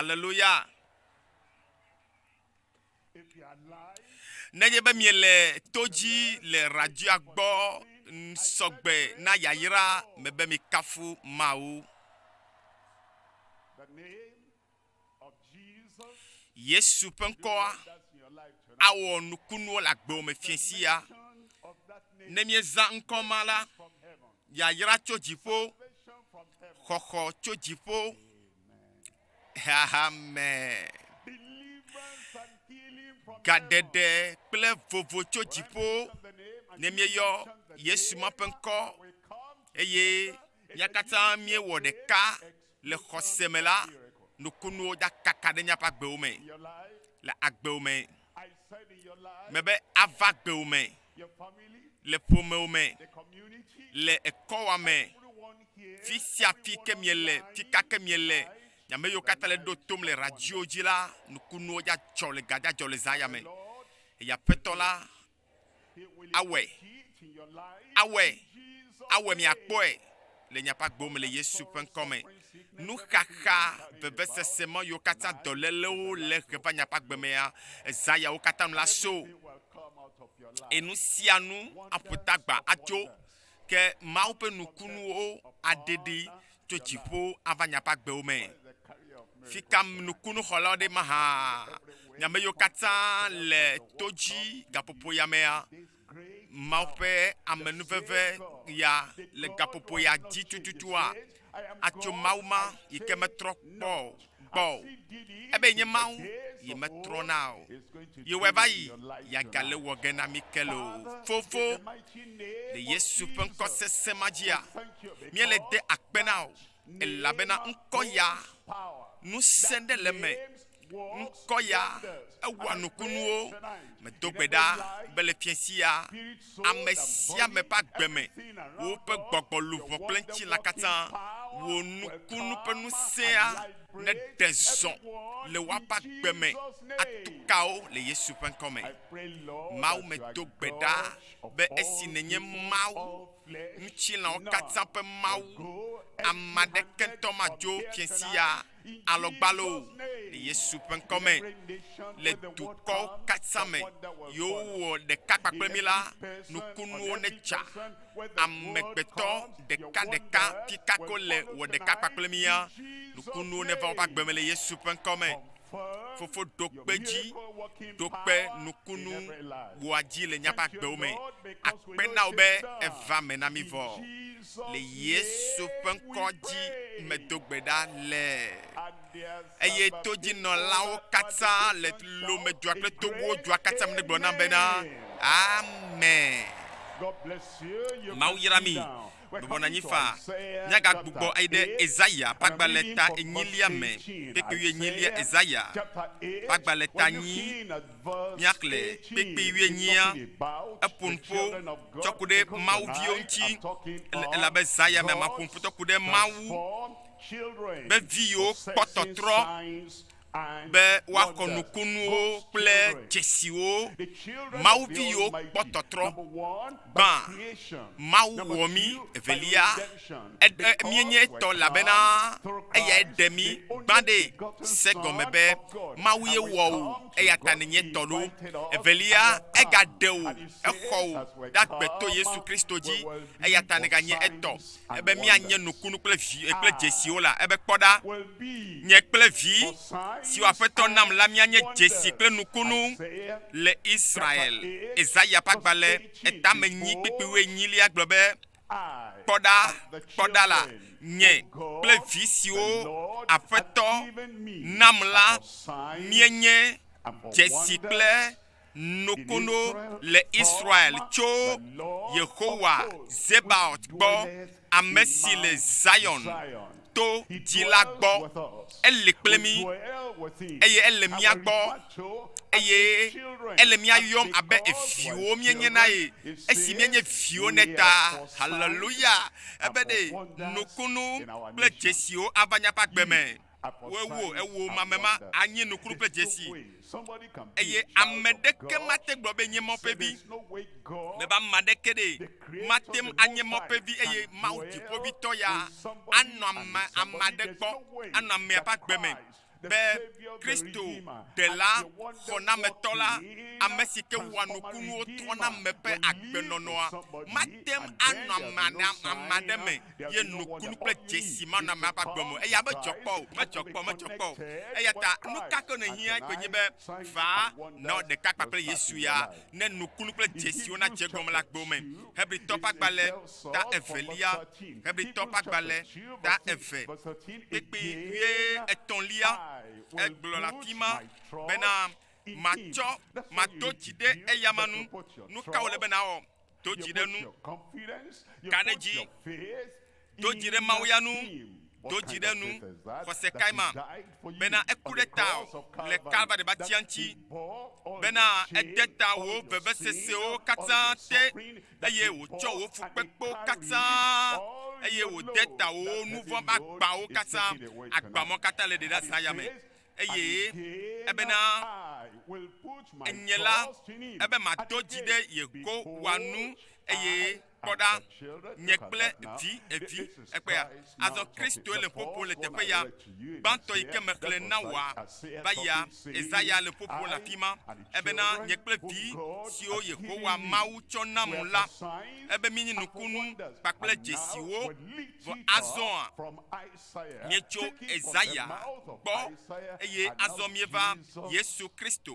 Aleluya. Nenye be miele to dzi le radioa gbɔ sɔgbe na yayra me be mikafu Mawu. Yesu ƒe ŋkɔa awɔ nukunuwo le agbewo me fie sia. Ne miezã ŋkɔ ma la, yayra tso dziƒo, xɔxɔ tso dziƒo Xexeame gaɖeɖe kple vovo tso dziƒo ne míeyɔ Yesu ma ƒe ŋkɔ eye mía katã míewɔ ɖeka le xɔse me la, nukunuwo dza kaka ɖe míaƒe agbewo me le agbewo me. me be ava gbewo me, le ƒomewo me, le ekɔwa me, fi sia fi ke miele, fi ka ke miele, nyame yiwo katã le ɖo tom le radio dzi la, nukunuwo dza dzɔ le gadzadzɔ le zã ya me. Eya petɔ la Awɔe, awɔe, awɔe, miakpɔe le miaƒe agbo me le Yesu ƒe ŋkɔ me. Nuxaxa, vevesese ma yiwo katã dɔlélewo le he va miaƒe agbe mea, zã yawo katã nu la so. Eye nu sia nu aƒo tagba atso ke Mawu ƒe nukunuwo aɖe ɖi tso dziƒo ava nya ƒe agbewo me. Fi ka nukunuxɔlawo ɖe maha nyame yiwo katã le to dzi gaƒoƒo ya mea? Mawu ƒe amenuveve ya le gaƒoƒo ya dzi tututua? Atso Mawu ma yi ke metrɔ kpɔ gbɔ o. Ebe nye Mawu yi metrɔna o. Yewɔe va yi yeagale wɔ ge na mí ke loo. Fofo, le Yesu ƒe ŋkɔ sesẽ ma dzia, míele de akpe na wò, elabena ŋkɔ ya, ŋusẽ ɖe le eme. Ŋkɔ ya, ewɔa nukunuwo. Medo gbe ɖa be le fiẽsia, ame sia ame ƒe agbe me, woƒe gbɔgbɔ luʋɔ kple ŋutilã katã. Wò nukunu ƒe ŋusẽa neɖe zɔ le woaƒe agbe me atukawo le Yesu ƒe ŋkɔ me. Mawu medo gbe ɖa be esi nènye Mawu, ŋutilãwo katã ƒe Mawu, ame aɖeke ŋutɔ madzo fiẽ sia alɔgbalo le Yesu ƒe ŋkɔ me le dukɔ katã me. Yewowɔ ɖeka kpakple mi la, nukunuwo netsa. Amegbetɔ ɖeka ɖeka pikako le wɔ ɖeka kpakple mia, nukunuwo neva woƒe agbe me le Yesu ƒe ŋkɔ me. Fofo ɖo kpe dzi, ɖo kpe nukunu wɔa dzi le míaƒe agbewo me. Akpe na wò be èva me na mí vɔ. le Yesu ƒe ŋkɔ dzi medo gbe ɖa le, eye todzinɔlawo katã le lomedua kple tobuwo dua katã me gblɔ nam bena, Amen. Mawu yra mi. Bɔbɔ nɔ anyi faa. Míagagbugbɔ ayi ɖe Ezaya ƒe agbalẽ ta enyilia me, kpekpeyui enyilia, Ezaya ƒe agbalẽ ta enyi, míaxlẽ kpekpe wuienyia eƒo nu ƒo tsɔ ku ɖe Mawu viwo ŋuti elabe zã ya mea maƒo nu ƒo tsɔ ku ɖe Mawu be viwo kpɔ tɔtrɔ be woaxɔ nukunuwo kple dzesiwo. Mawu viwo kpɔ tɔtrɔ Gbã, Mawu wɔ mí, evelia, eɖe míenye etɔ, elabena eyae ɖe mí gbã ɖe. Se egɔme be, Mawue wɔ wò, eya ta nènye etɔ loo. Evelia, egaɖe wò, exɔ wò ɖe agbe to Yesu Kristo dzi, eya ta nèganye etɔ. Ebe míanye nukunu kple vi eh, kple dzesiwo la, ebe kpɔ ɖa, nye kple vi siwo Aƒetɔ nam la míanye dzesi kple nukunu le Israel. Ezaya ƒe agbalẽ etame nyi kpikpi wuienyilia gblɔ be, Kpɔ ɖa, kpɔ ɖa la, nye kple vi siwo Aƒetɔ nam la míenye dzesi kple Nokono le Israel tso Yehowa Zebaot gbɔ, ame si le Zion to dzi la gbɔ. Eli kple mí, eye ele mía gbɔ, eye ele mía yɔm abe viwo míenye na ye, esi míenye viwo nɛ ta. Haleluya! Ebe ɖe nokono kple dzesiwo ava nya ƒe agbe me. Woewo ewo mamema anyi nukunu kple dzesi, eye ame ɖeke mate gblɔ be nye mɔƒevi, bebe ame aɖeke ɖe mate ŋu anye mɔƒevi eye Mawu dziƒoʋĩtɔ ya anɔ ame ame aɖe gbɔ, anɔ amea ƒe agbe me, be Kristo, Ɖela xɔnametɔ la, ame si ke wɔa nukunuwo trɔna ame ƒe agbenɔnɔa, mate ŋu anɔ ame aɖe me. ye nukunu kple dzesi mana ame ava gbɔ me. Eya medzɔ kpɔ o, medzɔ kpɔ, medzɔ kpɔ o. Eya ta nu ka ke nèhiã koe nye be va nɔ ɖeka kpakple Yesu ya, ne nukunu kple dzesiwo nadze egɔme le agbewo me. Hebritɔ ƒe agbalẽ ta evelia, Hebritɔ ƒe agbalẽ ta eve kpekpe wuie etɔ̃lia, egblɔ le afi ma bena, Matsɔ, mado dzi ɖe eyama nu. Nu ka wòle be nàwɔ? Do dzi ɖe nu. Ka ɖe dzi. Do dzi ɖe Mawu ya nu. Do dzi ɖe nu. Xɔse kae ma? Bena eku ɖe tawò le Kalvari batia ŋuti. Bena ede tawò vevesesewo katã te, eye wòtsɔ wò fukpekpewo katã, eye wòde tawò wò nuvɔ̃ ƒe agbawo katã, agbamɔ katã le ɖeɖeazã ya me. eye ebena enye la, ebe mato dzi ɖe Yehowa nu, eye kpɔ ɖa, nye kple vi evi ekpe ya. Azɔ Kristoe le ƒoƒo le teƒe ya. Gbãtɔ yi ke mexlẽ na wòa va yia, Ezaya le ƒoƒo le afi ma, ebena nye kple vi siwo Yehowa Mawu tsɔ nam la, ebe míenye nukunu kpakple dzesiwo. Vɔ azɔa, Míetso Esaya gbɔ, eye azɔ míeva Yesu Kristo,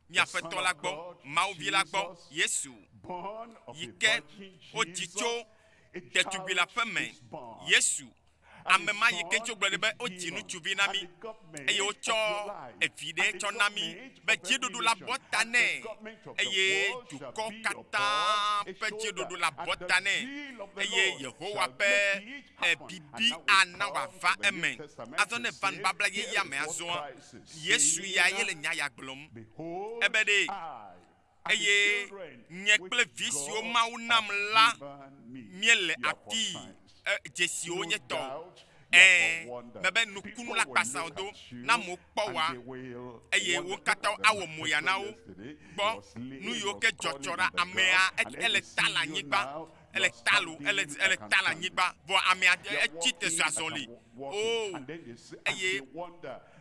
mía Aƒetɔ la gbɔ, Mawu Vi la gbɔ, Yesu, yi ke wodzi tso ɖetugbui la ƒe me. Yesu, ame ma yi ke tso gblɔ be wodzi ŋutsuvi na mí, eye wotsɔ evi ɖe tsɔ na mí be dziɖuɖu la bɔ ta nɛ, eye dukɔ katã ƒe dziɖuɖu la bɔ ta nɛ, eye Yehowa ƒe Bibi ana wòava eme. Azɔ ne eva nubabla yeyea me azɔa, Yesu ya ye le nya ya gblɔm. Ebe ɖe, Eye nye kple vi siwo Mawu nam la míele afii, e, dzesiwo nye tɔ. Ẽ, mebe nukunu la kpasã wòdo na amewo kpɔ wɔa, eye wo katã awɔ moya na wo. Kpɔ nu yiwo ke dzɔ tsɔ ɖa, amea, ele ta le anyigba. ele ta lo ele ele ta le anyigba vɔ ame aɖe etsi te zɔ azɔli o oh, eye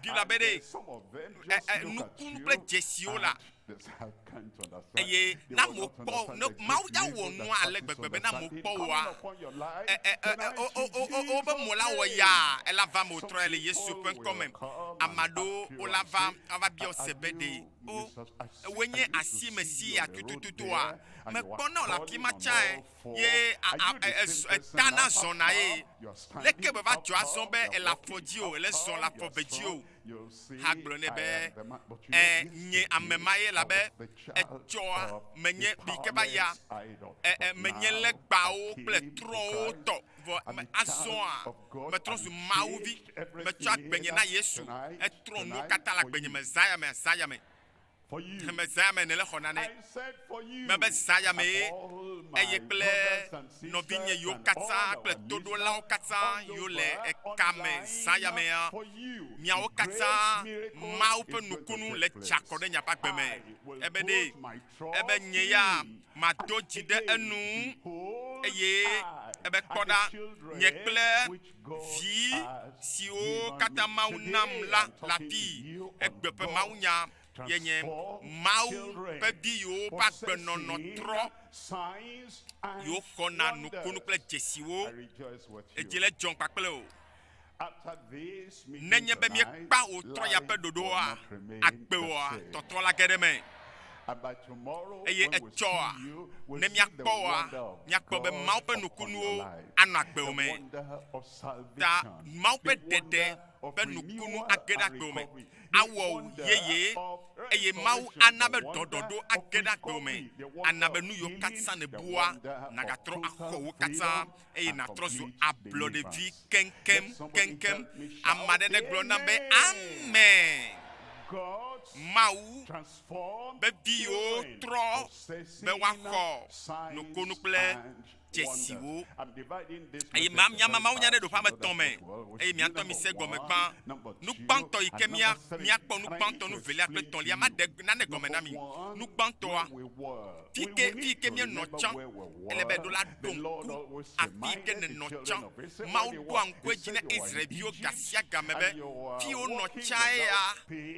bibla be ɖe nukunu kple dzesiwo la eye na mo kpɔ ne mawu ya wɔ nua ale gbegbe be na mo kpɔ woa wobe mo la wɔ ya ela va mo trɔ ele yesu ƒe ŋkɔ me ame aɖewo wo la va ava biɔ se be ɖe O, ewòe nye asi me si yia tutututua? Mekpɔna wò le afi ma tsã ɛ, ye a, a, e, e, e, etana zɔna ye. Leke meva dzɔ azɔ be èle afɔ dzi o, èle zɔ le afɔ ve dzi o? Ha gblɔ nɛ be, Ẽ, nye ame ma ye, elabe etsɔa menye yi ke va yia. Ẽ, ẽ, menye legbawo kple trɔ̃wo tɔ, vɔ me, azɔa, Metrɔ zu Mawu vi. Metsɔ agbenye na Yesu. Etrɔ nuwo katã le agbenye me zã ya me, zã ya me. He me zã ya me nèle xɔna nɛ. Mebe zã ya mee, eye kple nɔvinye yiwo katã kple toɖolawo katã yiwo le eka me zã ya mea, miawo katã, Mawu ƒe nukunu le tsa kɔ ɖe nye ƒe agbe me. Ebe ɖee. ebe nye ya mado dzi ɖe enu, eye ebe kpɔ ɖa, nye kple vi siwo katã Mawu nam la le afii, egbe ƒe mawunya ye nye. Mawu ƒe vi yiwo ƒe agbenɔnɔ trɔ, yiwo xɔna nukunu kple dzesiwo, edzi le dzɔm kpakple o. Nenye be míekpea ɣetrɔ ya ƒe ɖoɖoa agbewoa, tɔtrɔ la ge ɖe eme, eye etsɔa ne míakpɔ wɔa, míakpɔ be Mawu ƒe nukunuwo anɔ agbewo me. Ta Mawu ƒe ɖeɖe ƒe nukunu age ɖe agbewo me, awɔ wu yeye, eye Mawu ana be ɖɔɖɔɖo age ɖe agbewo me, ana be nu yiwo katã nèbua nagatrɔ axɔ wo katã. eye nàtrɔ zu ablɔɖevi keŋkeŋ, keŋkeŋ. Ame aɖe negblɔ nam be, Amen! Mawu be viwo trɔ be woaxɔ nukunu kple dzesiwo. Eye ma- míama mawunya ɖe ɖoƒe ame etɔ̃ me, eye mía ŋutɔ mise egɔme gbã. Nu gbãtɔ yi ke mía- míakpɔ, nu gbãtɔ, nu velia kple etɔ̃lia, maɖe nane gɔme na mi. Nu gbãtɔa, Fi ke, fi ke míenɔ tsã, ele be ɖola ɖo ŋku afii ke nènɔ tsã. Mawu ɖoa ŋku edzi na Israel-viwo gasiagame be, fi wonɔ tsae ya,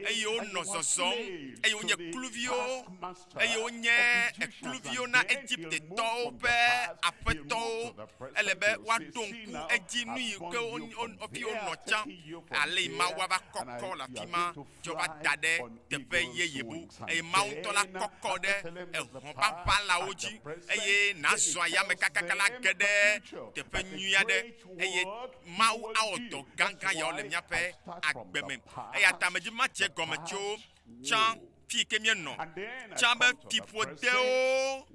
eye wonɔ zɔzɔm, eye wonye kluviwo, eye wonye ekluviwo na Egipte-tɔwo ƒe aƒetɔwo. Ele be woaɖo ŋku edzi nuyi ke wo, wo, fi wonɔ tsã, alei Mawu ava kɔkɔ le afi ma, tsɔ va da ɖe teƒe yeye bu, eye Mawu ŋutɔ la kɔkɔ ɖe ehɔ̃ ʋaʋã lawo dzi, eye nàzɔ ayame kakaka la ge ɖe teƒe nyui aɖe, eye Mawu awɔ dɔ gãgã yawo le míaƒe agbe me. Eya ta medi be matsi egɔme tso tsã, fi yi ke míenɔ tsã be fiƒodewo,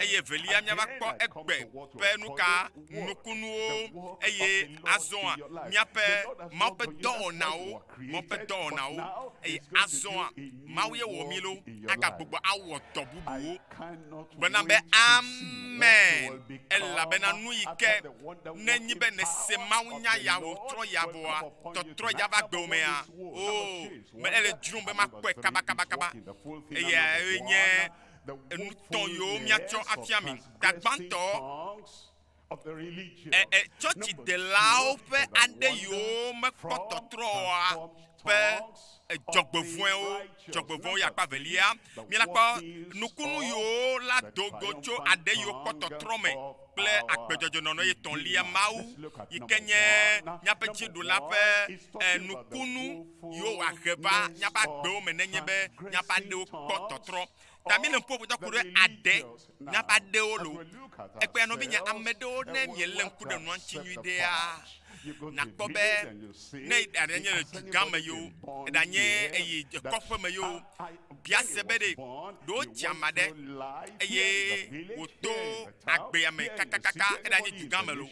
eye evelia míava kpɔ egbe ƒe nuka nukunuwo, eye azɔa míaƒe Mawu ƒe dɔwɔnawo. Ŋɔkpe dɔwɔnawo, eye azɔa Mawu ye wɔ mí loo, agagbugbɔ awɔ dɔ bubuwo. Gblɔna be, Amen, elabena nu yi ke nenyi be nèse mawunya ya wò trɔ ya vɔa, tɔtrɔe ya va gbewòmea, oo, me ele dzrom be makpɔe kabakabakaba. Eyae nye enutɔ̃ yiwo míatsɔ afia mi. Tagbãtɔ, Tsɔtsidelawo ƒe aɖe yiwo mekpɔ tɔtrɔ oa ƒe dzɔgbevɔ̃ewo, dzɔgbevɔ̃ewo yi akpa velia. Míakpɔ nukunu yiwo la do go tso aɖe yiwo kpɔ tɔtrɔ me kple agbedzɔdzɔ nɔnɔ ye tɔ̃lia Mawu yi ke nye míaƒe dziɖula ƒe nukunu yiwo wòahe va míaƒe agbewo me nenye be míaƒe aɖewo kpɔ tɔtrɔ. Ta mi le ŋku ƒoƒo ku ɖe aɖe na ƒe aɖewo lo. Ekpɔe ya nɔvinye, ame ɖewo ne mi le ŋku ɖe nua ŋuti nyui ɖea, na kpɔ be ne aɖe nye le dugã me yewo, eɖa nye eyi kɔƒe me yewo, bia se be ɖe ɖewo tsi ama ɖe eye wòto agbea me kakakaka eɖa nye dugã me lo,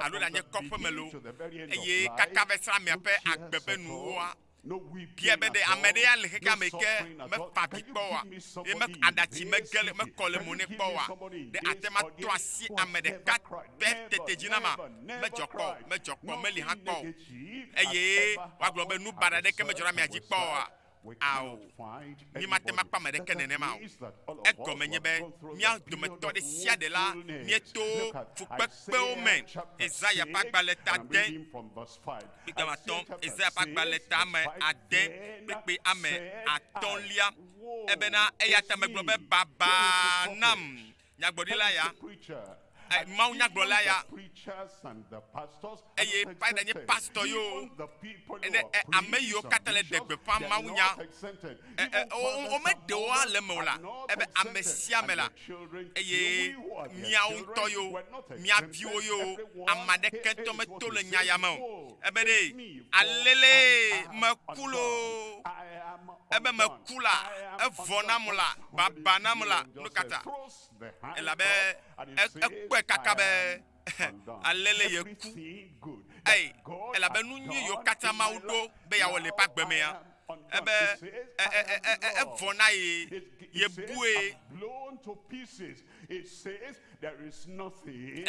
alo eɖa nye kɔƒe me lo, eye kaka va yi srã amea ƒe agbe ƒe nuwoa, Bia be ɖe ame ɖe ya le xexea me ke mefa vi kpɔ wa ye me aɖatsi mege le mekɔ le mo ne kpɔ wa ɖe ate ma to asi ame ɖeka pɛ tete dzi na ma medzɔ kpɔ medzɔ kpɔ meli hã kpɔ eye wagblɔ be nu baɖa ɖeke medzɔ na mia dzi kpɔ wa ao mi mate ma kpɔ ame ɖeke nenema o egɔme nye be mia dometɔ ɖe sia ɖe la mieto fukpekpewo me Ezaya ƒe agbalẽ ta de kpekpe ame atɔ̃, Ezaya ƒe agba le ta ame ade kpekpe ame atɔ̃lia. Ebena eya ta megblɔ be baba nam nyagblɔɖila ya, eh, Mawu nyagblɔla ya, eye paida nye pastɔ yewo, ne eh, ame yiwo katã le ɖe gbeƒã mawunya, eh, eh, womeɖe wo ale me o la, ebe ame sia ame la, eye miawo ŋutɔ yo, mia viwo yo, ame aɖeke tɔ meto le nya ya me o. Ebe ɖe alele meku loo, ebe meku la, evɔ nam la, baba nam la, nu ka ta? Elabe ekpɔe kaka be alele yeku ei elabe nu nyui yiwo katã mawu ɖo be yeawɔ le eƒe agbe mea ebe evɔ na ye yebue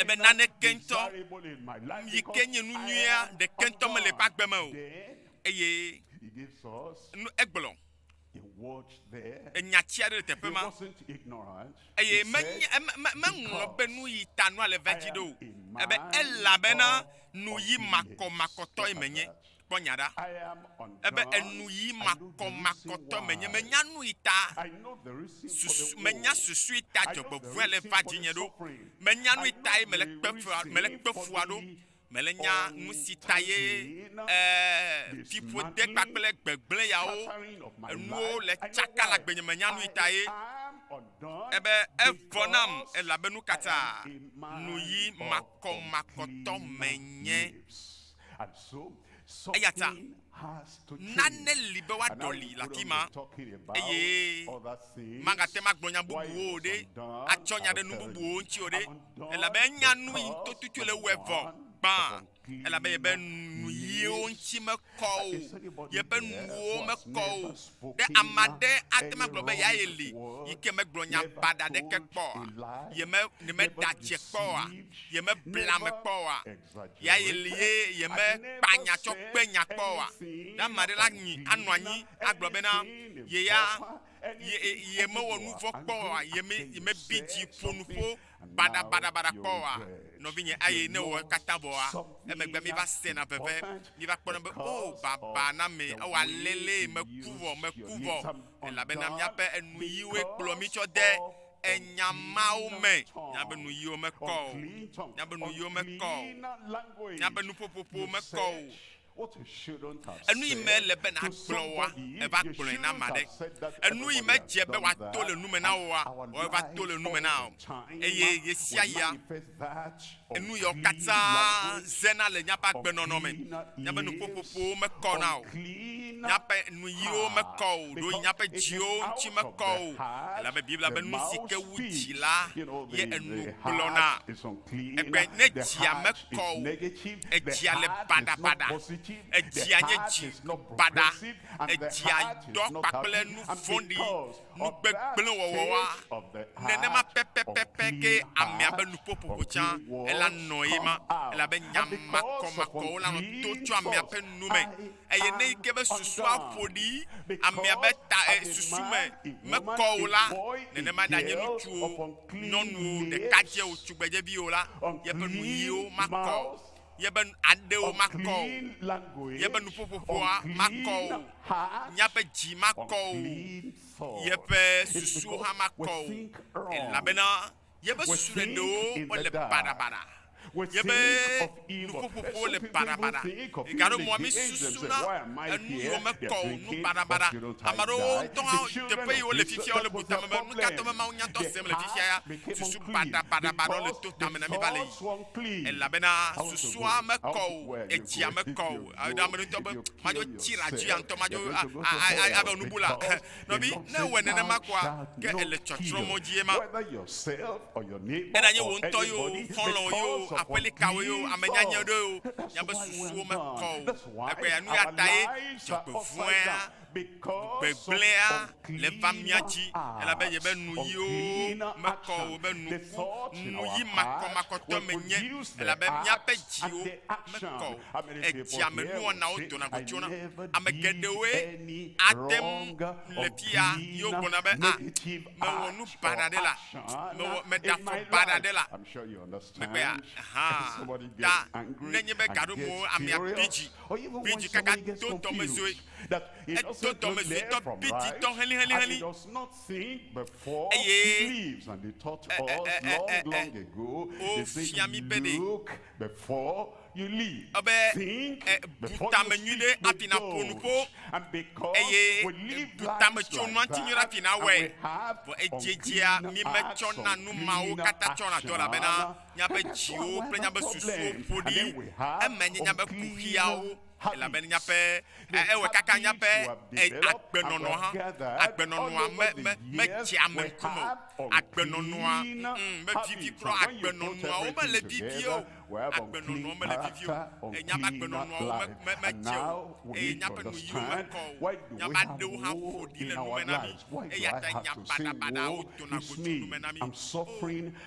ebe naneke ŋutɔ yi ke nye nu nyuia ɖeke ŋutɔ mele eƒe agbe me o eye egblɔ enya tsi aɖe le teƒe ma eye meŋlɔ be nu yi ta nua le va dzi ɖo ebe elabena nu yi makɔmakɔtɔe menye kpɔ nya ɖa ebe enu yi makɔmakɔtɔ menye menya nu yi ta susu menya susu yi ta dzɔgbevɔe le va dzinye ɖo menya nu yi tae mele kpefua mele kpefua ɖo Mele nya nu si ta ye ee, fiƒode kpakple gbegblẽ yawo enuwo le tsaka le agbenye me nya nui ta ye. Ebe evɔ nam elabe nu katã nuyi makɔmakɔtɔ menye. Eyata Nane li be woaɖɔli le afi ma, eye magate ŋu agblɔ nya bubuwo o ɖe, atsɔ nya ɖe nu bubuwo ŋuti o ɖe, elabe enya nu yi tototoe le ewɔe vɔ gbã, elabe yebe nuyiwo ŋuti mekɔ o, yeƒe nuwo mekɔ o. Ɖe ame aɖe ate ŋu agblɔ be yae li yi ke megblɔ nya baɖa aɖeke kpɔ oa? Yeme, yemeda dze kpɔ oa? Yemebla ame kpɔ oa? Ya ye li ye yeme kpa nya tsɔ kpe nya kpɔ oa? Ɖe ame aɖe la nyi anɔ anyi agblɔ bena ye ya yeme wɔ nu vɔ̃ kpɔ oa? Yeme yeme bi dzi ƒo nu ƒo baɖa baɖa baɖa kpɔ oa? Nɔvinye, eye ne wɔ ekatã vɔa, emegbe mi va sena veve, mi va kpɔna be oh baba na ame ewɔ alelee meku vɔ, meku vɔ, elabena miaƒe enuyiwoe kplɔ mi tsɔ de enya mawo me. Míabe nuyiwo mekɔ o. Míabe nuyiwo mekɔ o. Míabe nuƒoƒoƒo mekɔ o. Enu yi mele be nàgblɔ oa, èva gblɔe na ame aɖe. Enu yi medze be wòato le nu me na wòa, wòava to le nu me na wò. Eye ɣesiaɣia, Enu yawo katã zena le míaƒe agbenɔnɔ me. Míaƒe nuƒoƒoƒowo mekɔna o, míaƒe nuyiwo mekɔ o, ɖo míaƒe dziwo ŋuti mekɔ o, elabe Biblia be nu si ke wu dzi la ye enu gblɔna. Egbe ne dzia mekɔ o, edzia le baɖabaɖa, edzia nye dzi baɖa, edzia dɔ kpakple nu vɔ̃ɖi. nu gbegblẽ wɔwɔa, nenema pɛpɛpɛpɛ ke amea be nuƒoƒoƒo tsã ela nɔ ye ma, elabe nya makɔmakɔwo la nɔ to tso amea ƒe nu me, eye ne eke be susua ƒo ɖi amea be ta e susu me mekɔ o la, nenema ɖanye ŋutsuwo, nyɔnuwo, ɖekadzɛwo, tugbedzeviwo la, yeƒe nuyiwo makɔ o. Yebe aɖewo makɔ o. Yebe nuƒoƒoƒoa makɔ o. Míaƒe dzi makɔ o. Yeƒe susuwo hã makɔ o. Elabena yebe susu ɖeɖewo wole baɖabaɖa. Yebe nuƒoƒoƒowo le baɖabaɖa. Gaɖo mɔa mísusuna enu yiwo mekɔ o nu baɖabaɖa. Ame aɖewo ŋutɔ hã teƒe yi wole fifia wole bu tame be, Nukatɔe be mawunyatɔ sem le fifia ya? Susu baɖabaɖabaɖawo le to tame na mí va le yiyim. elabena susua mekɔ o, edzia mekɔ o. Eɖo ame ɖotɔ be, madzo tsi la dzi antɔ, madzo abe onubu la. Nɔvi, ne ewɔe nenema kɔa, ke ele tsɔtsrɔmɔ dzie ma. Eɖa nye wò ŋutɔ yio, xɔlɔ̃wò yio, aƒelikawo yio, ame nyanyɛ ɖoe o, nyabe susuwo mekɔ o. Egbea nuyatae dzɔgbevɔ̃ea Gbegblẽa le va mía dzi, elabe yebe nuyiwo mekɔ o be nuku, nuyi makɔmakɔtɔ menye, elabe míaƒe dziwo mekɔ o. Edzia me nuwɔnawo dona go tsona. Ame geɖewoe ate ŋu le fiya yewo gblɔna be, A, mewɔ nu baɖa ɖe la? Mewɔ, meɖe afɔ baɖa ɖe la? Megbea? Hã. Ta nenye be gaɖomewo amea bi dzi, bi dzi kaka do dɔmedzoe. Edo dɔmesitɔ biditɔ helĩhelĩhelĩ, eye wofia mí be ɖe ebe bu tame nyui ɖe hafi nàƒo nu ƒo, eye bu tametsonu atinyo ɖe hafi nàwɔe. Vɔ edziedzea mí metsɔna nu mawo katã tsɔna dɔ elabena míaƒe dziwo kple míaƒe susuwo ƒo ɖi, eme nye míaƒe kuxiawo. Elabene nyaƒe, e, ewɔe kaka nyaƒe, e, agbenɔnɔ hã, agbenɔnɔa me, me, medzea ame ŋkume o. Agbenɔnɔa, mm, mevivi kura o. Agbenɔnɔawo mele vivie o. Agbenɔnɔa mele vivie o. E, nyaƒe agbenɔnɔawo me, me, medze o. Eye nyaƒe nuyiwo mekɔ o. Nyaƒe aɖewo hã ƒo ɖi le nume na mí. Eyata nya baɖabaɖawo dona go tso nume na mí. Oo.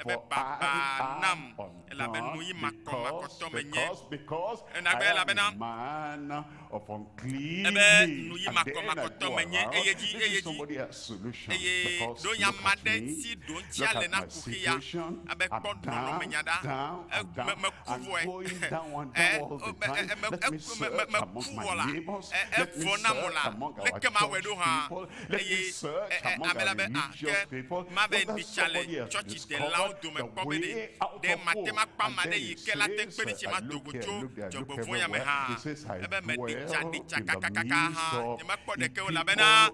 ebe babaa nam, elabe nuyi makɔmakɔtɔ menye. Enagbe elabena ebe nuyi makɔmakɔtɔ menye eye dzi eye dzi eye ɖo nya ma ɖe si ɖo ŋuti ale na kuxi ya abe kpɔ nɔnɔmenya ɖa eme meku vɔe e eme eku me me meku vɔ la e evɔ nam o la leke mawɔe ɖo hã eye ame la be, A, ke mave mìtsa le tsɔtsidelawo dome kpɔ be ɖe ɖe mate makpɔ ame aɖe yi ke late kpe ɖi tsi mado go tso dzɔgbevɔ̃ea me hã. Ebe meɖi tsa, ɖi tsa kakakaka hã nyemekpɔ ɖeke o, elabena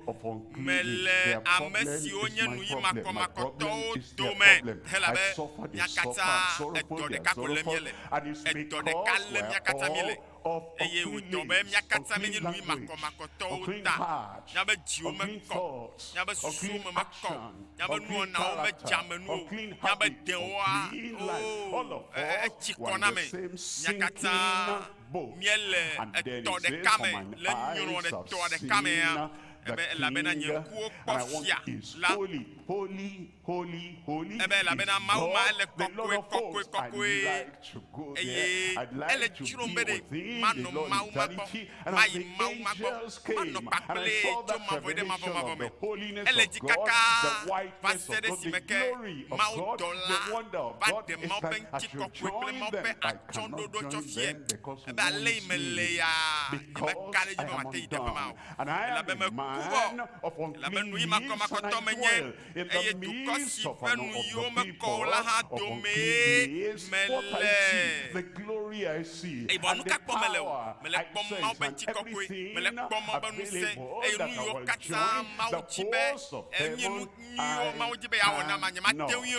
mele ame siwo nye nuyimakɔmakɔtɔwo dome helabe mía katã edɔ ɖeka ko lém míele, edɔ ɖeka lém mía katã míele. eye wòdɔ be mía katã míenye nui makɔmakɔtɔwo ta, míabe dziwo mekɔ, míabe susuwo me mekɔ, míabe nuwɔnawo medze ame nu o, míabe dewoa, oo, e, e, etsi kɔ na ame. Mía katã míele etɔ ɖeka me, le nyrɔɖetɔa ɖeka mea, ebe, Elabena nye ŋkuwo kpɔ Fia la. Ebe, elabena Mawu ma, ele kɔkɔe, kɔkɔe, kɔkɔe, eye ele tsrom be ɖe manɔ Mawu ma gbɔ, mayi Mawu ma gbɔ, manɔ kpakplee tso mavɔe ɖe mavɔmavɔ me. Ele dzi kakaa vaseɖe esime ke Mawudɔla va ɖe Mawu ƒe ŋutikɔkɔe kple Mawu ƒe atsyɔ̃ɖoɖoa tsɔ fiae. Ebe, ale yi mele ya, nyemeka ɖe edzi be mate yi teƒe ma o, elabe meku vɔ, elabe nuyimakɔmakɔtɔ menye. eye dukɔ si ƒe nuyiwo mekɔ o la hã domee mele. Yibɔ nu ka kpɔm mele o? Mele kpɔm Mawu ƒe ŋutikɔkɔe, mele kpɔm Mawu ƒe ŋusẽ, eye nuyiwo katã Mawu di be, enye nu nyuiwo Mawu di be yeawɔ nam la, nyemate ŋui o.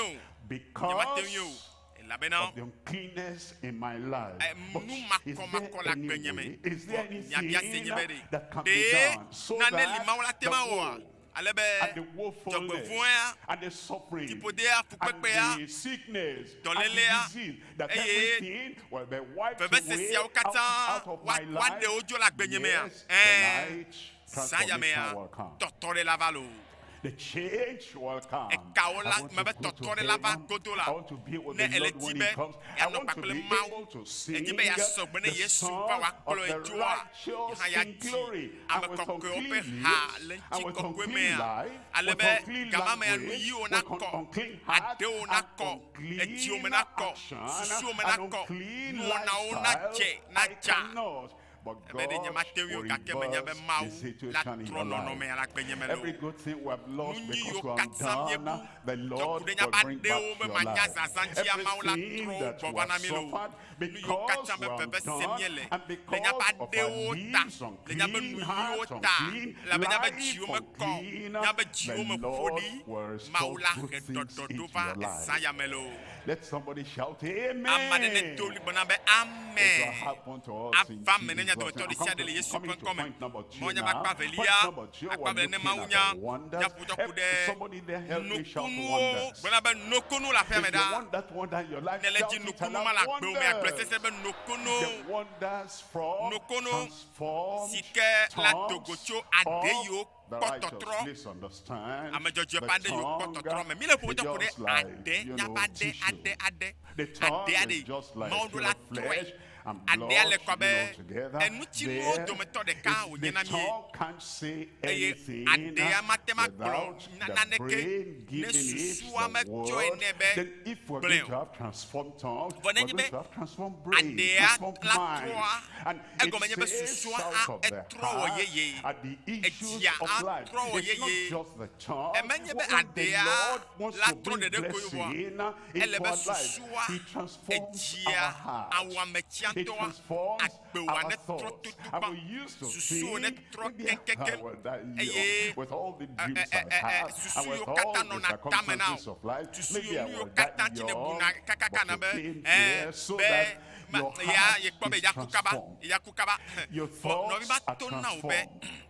Nyemate ŋui o, elabena nu makɔmakɔ le agbenye me. Vɔ nya biasie nye be, Ɖe nane li Mawu ate ŋu awɔa? ale be dzɔgbevɔ̃ea, fiƒodea, fukpekpea, dɔlélea, eye vevese siawo katã woaɖe wo dzo le agbenye mea? Ɛ̃, zã ya mea, tɔtɔɖe la va loo. Ekawò la, mebe tɔtɔɖe la va godo la, ne ele di be yeanɔ kpakple Mawu, edzi be yeasɔ gbe ne Yesu va wòakplɔe dzoa, yehã yeadi. Ame kɔkɔewo ƒe ha le ŋutikɔkɔe mea, ale be gamamea nuyiwo nakɔ, aɖewo nakɔ, edziwo me nakɔ, susuwo me nakɔ, nuwɔnawo nadze, nadza. Ebe ɖe nyemate ŋui o, gake menya be Mawu latrɔ nɔnɔmea le agbenyeme loo. Nu nyuiyiwo katã míebu, dzɔkuɖenyabaɖewo be manya zazã dzia, Mawu latrɔ wo gbɔ va na mí loo. Nuyiwo katã be veve sem míele le míaƒe aɖewo ta, le míaƒe nuyiwo ta, elabe míaƒe dziwo mekɔ o, míaƒe dziwo me ƒo ɖi. Mawu la he ɖɔɖɔ ɖo va Esaya me loo. Ame aɖe nedo ɣli gblɔ na be, Ame! Ava eme ne nya dometɔ ɖesiaɖe le Yesu ƒe ŋkɔ me. Mawunya ƒe akpa evelia. Akpa be ne Mawu nya nyaƒotɔku ɖe nukunuwo gblɔna be nokunu le aƒea me ɖa. Ne le dzi nukunu ma le agbewo me agblɔe sese be nokunu nokunu si ke la do go tso aɖe yiwo kpɔtɔtrɔ ame dzɔdzɔe ƒe aɖe yiwo kpɔtɔtrɔ me. Mi le ƒoƒo tɔku ɖe aɖe nyaƒe aɖe aɖe aɖe aɖe aɖe Mawu ɖo la trɔe. Aɖea le kɔ be enutinuwo dometɔ ɖeka wònye na mí, eye aɖea mate ŋu agblɔ na naneke ne susua metsɔe nɛ be gblɔe o. Vɔ nenye be aɖea la trɔa, egɔme nye be susua a etrɔ wɔ yeye, edzia a trɔ wɔ yeye. Emenye be aɖea la trɔ ɖeɖe koe o vɔa, ele be susua. Edzia awɔame tsiatɔa agbewòa ne trɔ totogbã, susuwò ne trɔ keŋkeŋkeŋ, eye susu yiwo katã nɔna tame na wò, susu yiwo nu yiwo katã dzi nèbuna kakaka na be ẽ, be ma, yea, yekpɔ be yeaku kaba, yeaku kaba. Vɔ nɔvi ma to na wò be.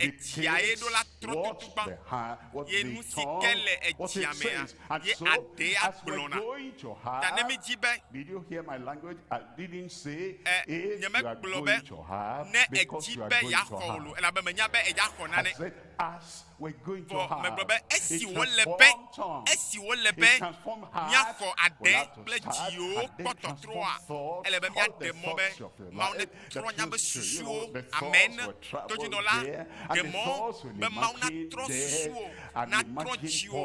Edzia ye ɖo la trɔ tutugbã, ye nu si ke le edzia mea, ye aɖee agblɔ na. Ta ne mídi be, e, nyemegblɔ be, ne èdi be yeaxɔ wò lo, elabe menya be eya xɔ nane, vɔ megblɔ be, esi wòle be, esi wòle be míaxɔ aɖe kple dziwo kpɔ tɔtrɔa, ele be míaɖe mɔ be Mawu ne. trɔ nya be susuwo amee ne tɔdzinɔla ɖe mɔ be Mawu natrɔ susuwo, natrɔ dziwo,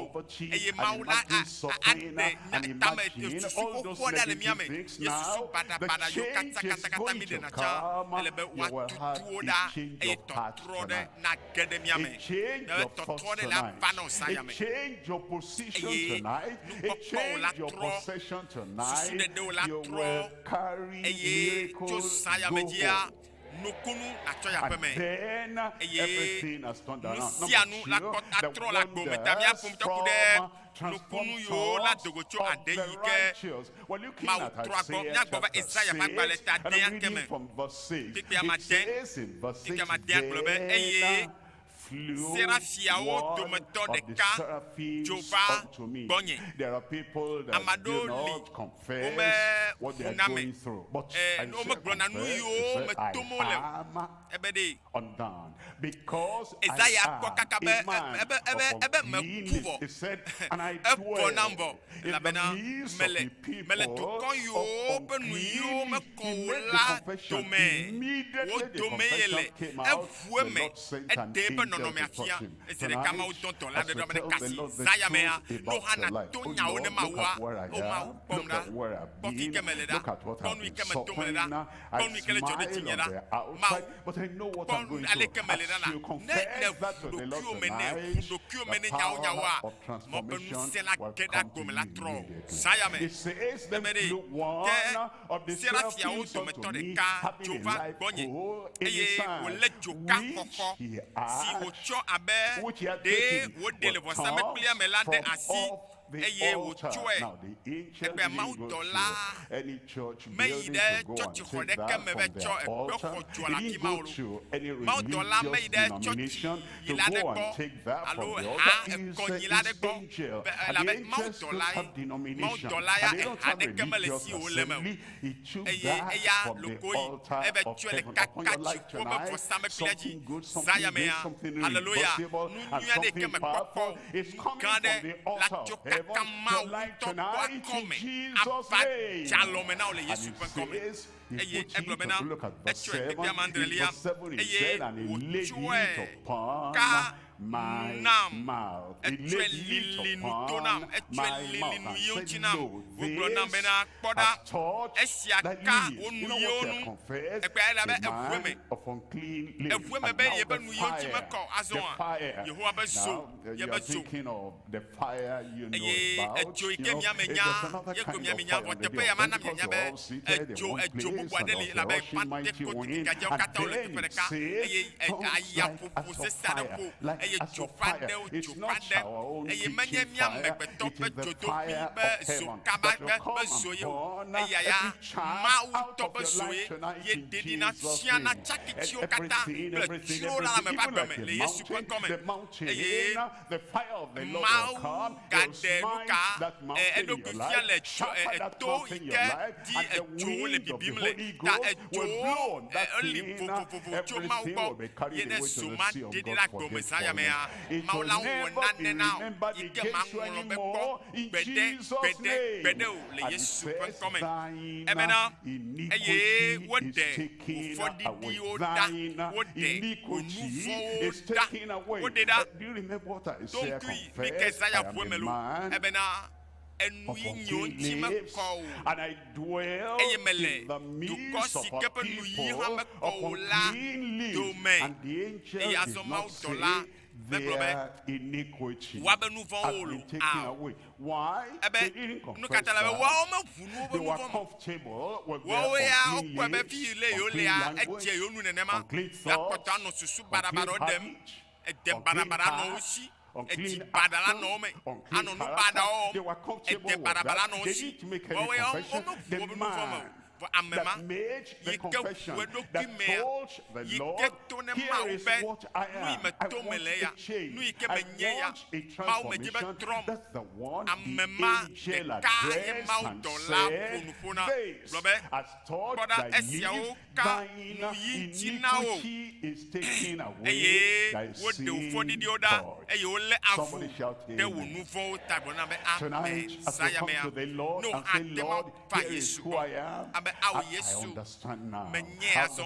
eye Mawu la a, a, aɖe nya, tame, susu xoxoa ɖa le mía me. Nye susu baɖabaɖa yiwo katã, katã, katã míɖena tsã, ele be woatutu wo ɖa, eye tɔtrɔ ɖe nage ɖe mía me, ne be tɔtrɔ ɖe le ava nɔ zã ya me. Eye nukpɔkpɔwo la trɔ, susuɖeɖewo la trɔ. Eye tso zã ya me dzia, nukunu natsɔ yi aƒeme, eye nu sia nu lakpɔ atrɔ le agbo me. Ta mía ƒometɔ ku ɖe nukunu yiwo la do go tso aɖe yi ke Mawu trɔa gbɔ. Míagbɔ va Esaya ƒe agbalẽ ta dẽa ke me, kpikpi amadẽ, kpikpi amadẽa gblɔ be, Eye Serafiawo dometɔ ɖeka dzo va gbɔnye. Ame aɖewo li womeʋu na ame, eye womegblɔna nu yiwo me tom wole o. Ebe ɖee, Esaya kpɔ kaka be ebe me ku vɔ. Evɔ nam vɔ. Elabena mele, mele dukɔ yiwo ƒe nuyiwo mekɔ o la dome. Wo domee yele. Eʋu eme, eɖe eƒe nɔnɔmea fia. Zi ɖeka Mawu dɔ dɔla aɖe ɖo ame ɖeka si zã yamea, ne woxa nato nyawo ne Mawua, O Mawu, kpɔm ɖa, kpɔ fi yi ke mele ɖa, kpɔ nu yi ke me tom le ɖa. kpɔ nu yi ke le dzɔ ɖe dzinye la, Mawu, kpɔ nu aleke mele ɖa la. Ne nèʋu ɖokuiwò me ne, ʋu ɖokuiwò me ne nyawonyawoa, mɔ be ŋusẽ la ke ɖe agome la trɔ o. Zã ya me, meme ɖee. Ke serafiawo dometɔ ɖeka dzo va gbɔnye, eye wòlé dzoka xɔxɔ, si wòtsɔ abe ɖee wòɖee le vɔsamlekpuia me la ɖe asi. eye wòtsɔe ɖe be mawudɔla meyi ɖe tsɔtsixɔ ɖeke me be tsɔ ekpe xɔ dɔa le afi ma o loo, mawudɔla meyi ɖe tsɔtsinyila aɖe gbɔ alo eha ekɔnyila aɖe gbɔ be elabe mawudɔlae, mawudɔla ya eha aɖeke mele esi o wòle eme o, eye eya loko yi ebe tsɔe le kaka tsi woƒe vɔsamlekpuia dzi zã yamea. Haleluya! Nu nyui aɖeke mekpɔ kpɔ o. Ke aɖe le atsyɔ kaka Mawu ŋutɔ ƒe akɔme ava djalɔ me na wò le Yesu ƒe ŋkɔ me. Eye egblɔ bena, Etsɔe tegbee ame adrelia, eye wòtsɔe ka nu nam, etsɔe lili nu to nam, etsɔe lili nu yewo ŋuti nam, wògblɔ nam bena, Kpɔ ɖa, esia ka wò nuyiwo ŋu egbea elabe eʋu eme, eʋu eme be ye be nuyiwo ŋuti mekɔ o. Azɔa, Yehowa be zo, ye be zo, eye edzo yi ke mia menya, ye koe mia menya, vɔ teƒe ya mana mianya be edzo, edzo bubu aɖe li, elabe Pantekoti gadzɛawo katã wole teƒe ɖeka, eye aya ƒoƒo sesẽ aɖe ƒo, eye dzo ƒe aɖewo dzo. aɖe, eye menye mía amegbetɔ ƒe dzodoƒee be zo kaba ɖe ƒe zoe o, eyaya Mawu tɔ ƒe zoe ye ɖeɖi na fia na tsakitsiwo katã kple tsrowo le ame ƒe agbe me le Yesu ƒe ŋkɔ me. Eye Mawu gaɖe nuka e eɖokui fia le dzo e eto yi ke dzi edzowo le bibim le, ta edzowo e eli vovovovo tso Mawu gbɔ ye ne zo ma ɖeɖi la gbeomezã yamea. Mawu la wɔ nane na o yi ke maŋlɔ be kpɔ gbeɖe, gbeɖe, gbeɖe o le Yesu ƒe ŋkɔ me. Ebena, eye woɖe wò fɔɖiɖiwo ɖa, woɖe wò nu vɔ̃wo ɖa, woɖe ɖa. Ɖo ŋkui, mi Kesayaʋue me loo, ebena. enu yi nyiwo ŋuti mekɔ o, eye mele dukɔ si ke ƒe nuyiwo hã mekɔ o la dome. Eye azɔ mawudɔla megblɔ be, Woa be nu vɔ̃wo wolo ao. Ebe, nu ka ta la? Be woawo meʋu nu woƒe nu vɔ̃ me. Woawo ya wokpɔe be fiyi le yewolea edze yewo nu nenema. Ɖe akpɔtɔ anɔ susu baɖabaɖawo ɖem. ede baɖabaɖa nɔ wo si edi baɖala nɔ wo me anɔ nu baɖa wɔwɔm ede baɖabaɖa nɔ wo si wɔwɔ ya wo meʋu wobe nu vɔ̃ me o vɔ ame ma yi ke ʋu eɖokui mea yi ke to ne mawu be nu yi meto me le ya nu yi ke menye ya mawu medze be trɔm ame ma ɖeka ye mawudɔla ƒo nu ƒo na gblɔ be kpɔ ɖa esiawo ka nu yi ŋuti na wo, eye woɖe wò fɔɖiɖiwo ɖa, eye wolé avu ɖe wò nu vɔ̃wo ta. Gblɔ na be, Ame zã ya mea, ne woxa te ma va Yesu gbɔ, abe ao Yesu, menyea azɔ,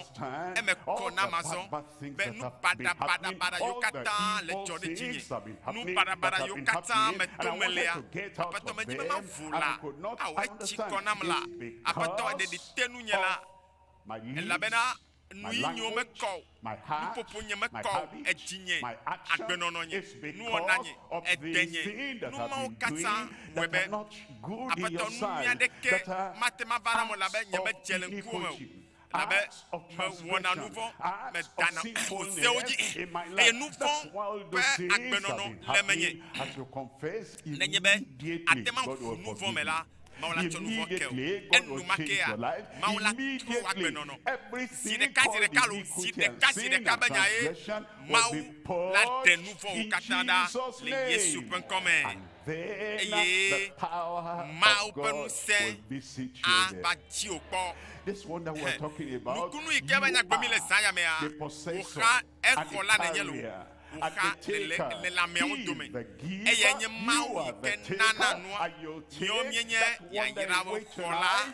eme kɔ nam azɔ. be nu baɖabaɖabaɖa yiwo katã le dzɔ ɖe dzinye, nu baɖabaɖa yiwo katã me to melea, Aƒetɔ medi be mavu la, awɔ etsi kɔ nam la, Aƒetɔ eɖeɖi te nunye la, elabena nuyinyuwo mekɔ o, nuƒoƒo nye mekɔ o, edzinye, agbenɔnɔ nye, nuwɔna nye, ede nye, nu mawo katã wɔe be, Aƒetɔ, nunyui aɖeke mate mava ɖam o, elabe nyemedze le ŋkuwò me o. Elabe mewɔna nu vɔ̃, medana ƒo sewo dzi, eye nu vɔ̃ ƒe agbenɔnɔ le menye. Nenye be àte ŋu aʋu nu vɔ̃ me la, Mawu la tsɔ nu vɔ̃ ke wò. Enumake la, Mawu la trɔ wò agbenɔnɔ. Zi ɖeka zi ɖeka alo zi ɖeka zi ɖeka be nyae, Mawu la ɖe nu vɔ̃wo katã ɖa le Yesu ƒe ŋkɔ me. eye Mawu ƒe ŋusẽ ava dziwò kpɔ. Nukunu yi ke va nya gblɔ mí le zã ya mea, wòxa exɔ la nenye loo, wòxa lelãmeawo dome, eye enye Mawu yi ke nana nua míwo míenye yayrawo xɔ la.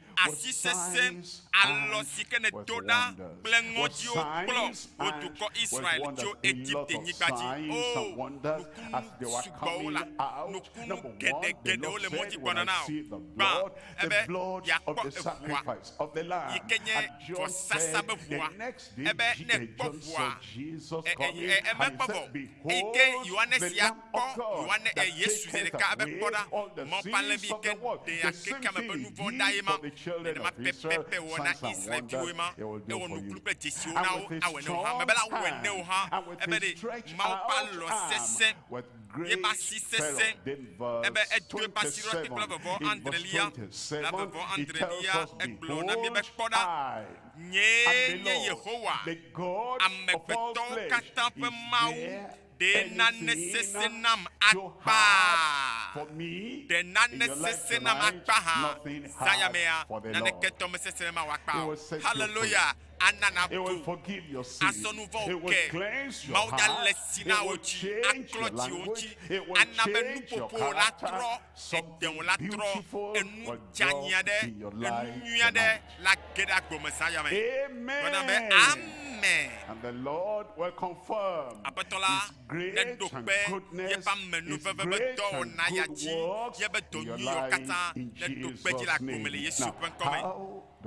asi sesẽ, alɔ si ke nèdo ɖa kple ŋɔdziwo kplɔ wò dukɔ Israel tso Egipte-nyigba dzi. O! Nukunu sugbɔwo la, nukunu geɖe geɖewo le ŋɔdzi gbɔna na wò. Gbã ebe yeakpɔ eʋua, yi ke nye vɔsasa be ʋua, ebe ne ekpɔ ʋua, e, e, e, e, e, mekpɔ vɔ o, eyi ke Yohanes ya. Kpɔ Yoane e Yesu zeɖeka abe kpɔ ɖa, mɔ palẽvi ke ɖe akeke ame ƒe nu vɔ̃ ɖae ma. Nenema pɛpɛpɛ ewɔ na Israel viwoe ma. Ewɔ nukunu kple dzesiwo na wo, awɔe ne wo hã. Mebe la wɔe ne wo hã. Ebe ɖe Mawu ƒe alɔ sesẽ, yeƒe asi sesẽ, ebe edo eƒe asi ɖo ati kple vevɔ adrelia, la vevɔ adrelia, egblɔ na mí be, Kpɔ ɖa, nyee nye Yehowa, amegbetɔwo katã ƒe Mawu. Ɖe nane sesẽ nam akpa? Ɖe nane sesẽ nam akpa hã? Zãya mea, naneke tɔ mesesẽ be mawɔ akpa o. Haleloya! Ana nato. Asɔ nu vɔ̃wo ke. Mawu nya le si na wò dzi. Aklɔ dziwò ŋuti. Ana be nuƒoƒowò natrɔ. sɔ de ŋu la trɔ enu dzeanyi aɖe, enu nyui aɖe le age ɖe agbe me zã yame. Gblɔna be, Amen. Aƒetɔ la neɖo kpe yeƒe ame nu veve be dɔwɔna ya dzi, yeƒe dɔ nyuiwo katã neɖo kpe edzi le agbo me le Yesu ƒe ŋkɔ me.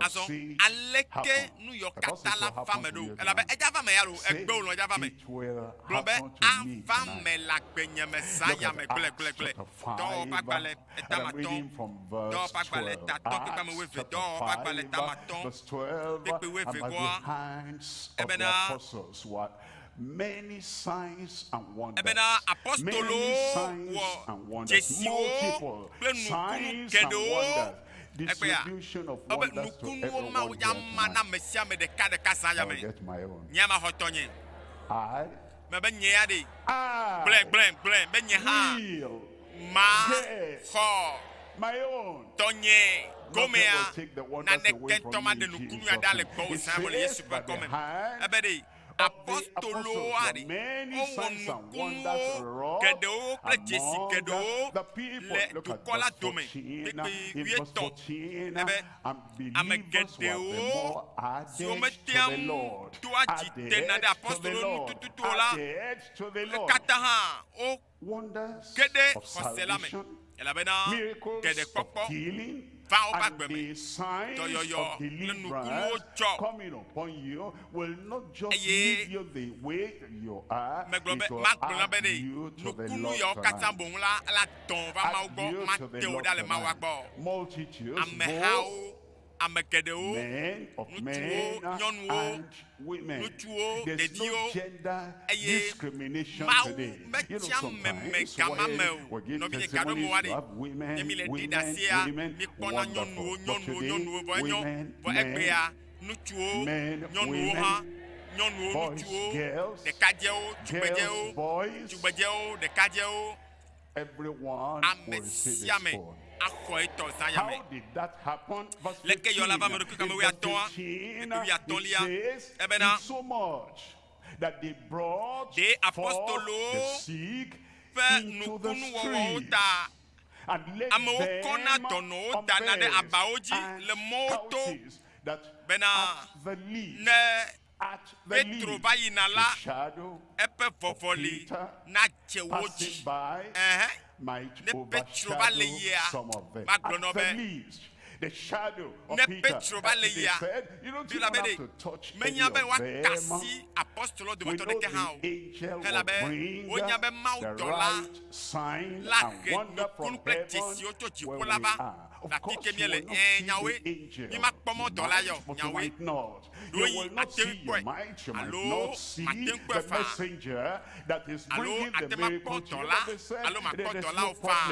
Azɔ aleke nu yɔ katã la va me ɖo? Elabe edza va me ya loo, egbe wòlɔ̃ edza va me. Gblɔ be, Ava me le agbenye me zã ya me gblẽgblẽgblẽ. Dɔwɔwɔ ƒe agbalẽ, eta me atɔ̃, Dɔwɔwɔ ƒe agbalẽ, eta atɔ̃ kpekpe ame wuieve, Dɔwɔwɔ ƒe agbalẽ, eta me atɔ̃ kpekpe wuievegɔa, ebena, ebena apostolowo wɔ dzesiwo kple nukunu geɖewo. Egbea, ebe nukunuwo Mawu dza ma na ame sia ame ɖekaɖeka zã ya me. Nye ya maxɔ tɔnye. Mebe nye ya ɖee. Gblɔe, gblɔe, gblɔe be nye hã maxɔ tɔnye gomea, naneke ŋutɔ maɖe nukunu ya ɖa le gbɔwò zã ya me le Yesu ƒe ŋkɔ me. Ebe ɖee. apostolowoa ɖe? Wowɔ nukunuwo geɖewo kple dzesi geɖewo le dukɔ la dome kplikpli wuietɔ̃. Ele be ame geɖewo siwo metea ŋu doa dzi tena ɖe apostolowo ŋu tututu o la katã hã wo. ge ɖe xɔse la me, elabena ɖeɖekpɔkpɔ va woƒe agbe me, dɔyɔyɔ kple nukunuwo dzɔ, eye megblɔ be, Magblɔ na be ɖe nukunu yawo katã boŋ la, ele atɔ̃ va Mawu gbɔ, mate wo ɖa le Mawua gbɔ. Amehawo ame geɖewo, ŋutsuwo, nyɔnuwo, ŋutsuwo, ɖeviwo, eye Mawu metia meme gama me o. Nɔvinye, gaɖo eme wa ɖi. Ne mile ɖi ɖe asia, mikpɔna nyɔnuwo, nyɔnuwo, nyɔnuwo, vɔ enyo, vɔ egbea, ŋutsuwo, nyɔnuwo hã, nyɔnuwo, ŋutsuwo, ɖekadzɛwo, tugbedzɛwo, tugbedzɛwo, ɖekadzɛwo, Ame sia ame axɔ etɔ zã ya me. Leke yɔ la va me ɖokui kame wuiatɔ̃a? Ɖokui wuiatɔ̃lia ebena, ɖe apostolowo ƒe nukunuwɔwɔwo ta amewo kɔna dɔnɔwo dana ɖe abawo dzi le mɔwo to bena ne Petro va yina la, eƒe vɔvɔli nadze wo dzi. Ɛ̃, ne Petro va le yia, magblɔ na wo be, ne Petro va le yia, elabe ɖe menya be woaka asi apostoloawo dometɔ aɖeke hã o, elabe wonya be mawudɔla la he nukunu kple dzesiwo tso dziƒo la va. Ɖakeke míele ẽ nyawoe, mímakpɔ mɔ dɔla yɔ nyawoe ɖoyi ate ŋu kpɔe alo mate ŋu kpɔe faa alo ate ŋu akpɔ dɔla alo makpɔ dɔlawo faa.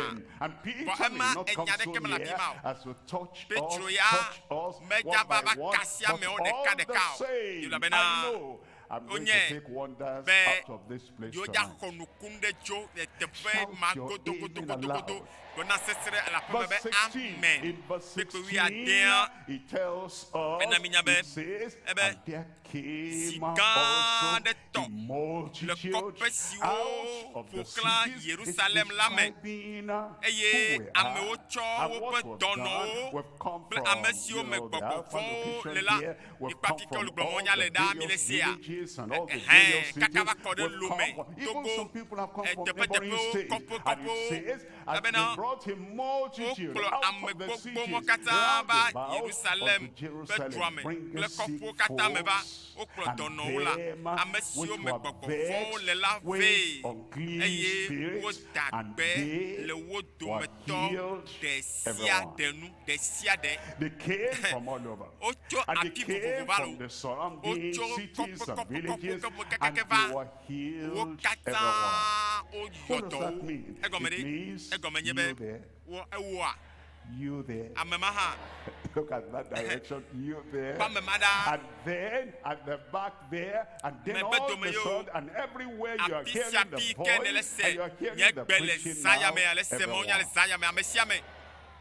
Vɔ ema enya ɖeke mele afi ma o. Petro ya medza va va kasia amewo ɖekaɖeka o, elabena wonyae be Yoya xɔ nukun ɖe tso teƒe ma godogodogodogodo gblɔna sesre le aƒeme be, Amen. Kpekpe wuiadea ena minya be, ebe zi gã aɖe tɔ le kɔƒe siwo ƒo xlã Yerusalem la me, eye amewo tsɔ woƒe dɔnɔwo kple ame siwo me gbɔgbɔ vɔ̃wo le la Mi kpati ke olu gblɔ mɔ nya le ɖaa mi le sea ɛhɛn kaka va kɔ ɖe lo me togo eteƒe teƒewo kɔƒe kɔƒewo elabena wo kplɔ ame gbogbo mɔ katã va Yerusalem ƒe dua me kple kɔƒewo katã me va wo kplɔ dɔnɔwo la ame siwo me gbɔgbɔ vɔwo le la vɛ eye wo da gbe le wo dometɔ tɔ ɖe sia ɖe nu, ɖe sia ɖe. Wotso afi vovovo va le wo. Wotso kɔƒekɔƒekɔƒekɔƒe kekeake va. Wo katã woyɔ dɔ wo. Egɔme ɖe? Egɔme nye be, wɔ ewɔa? Ame ma hã. Kpɔ ame ma ɖa. megbedome ye o, afi sia afi yi ke nèle se nye gbe le zãya me, ale se mawunya le zãya me, ame sia ame.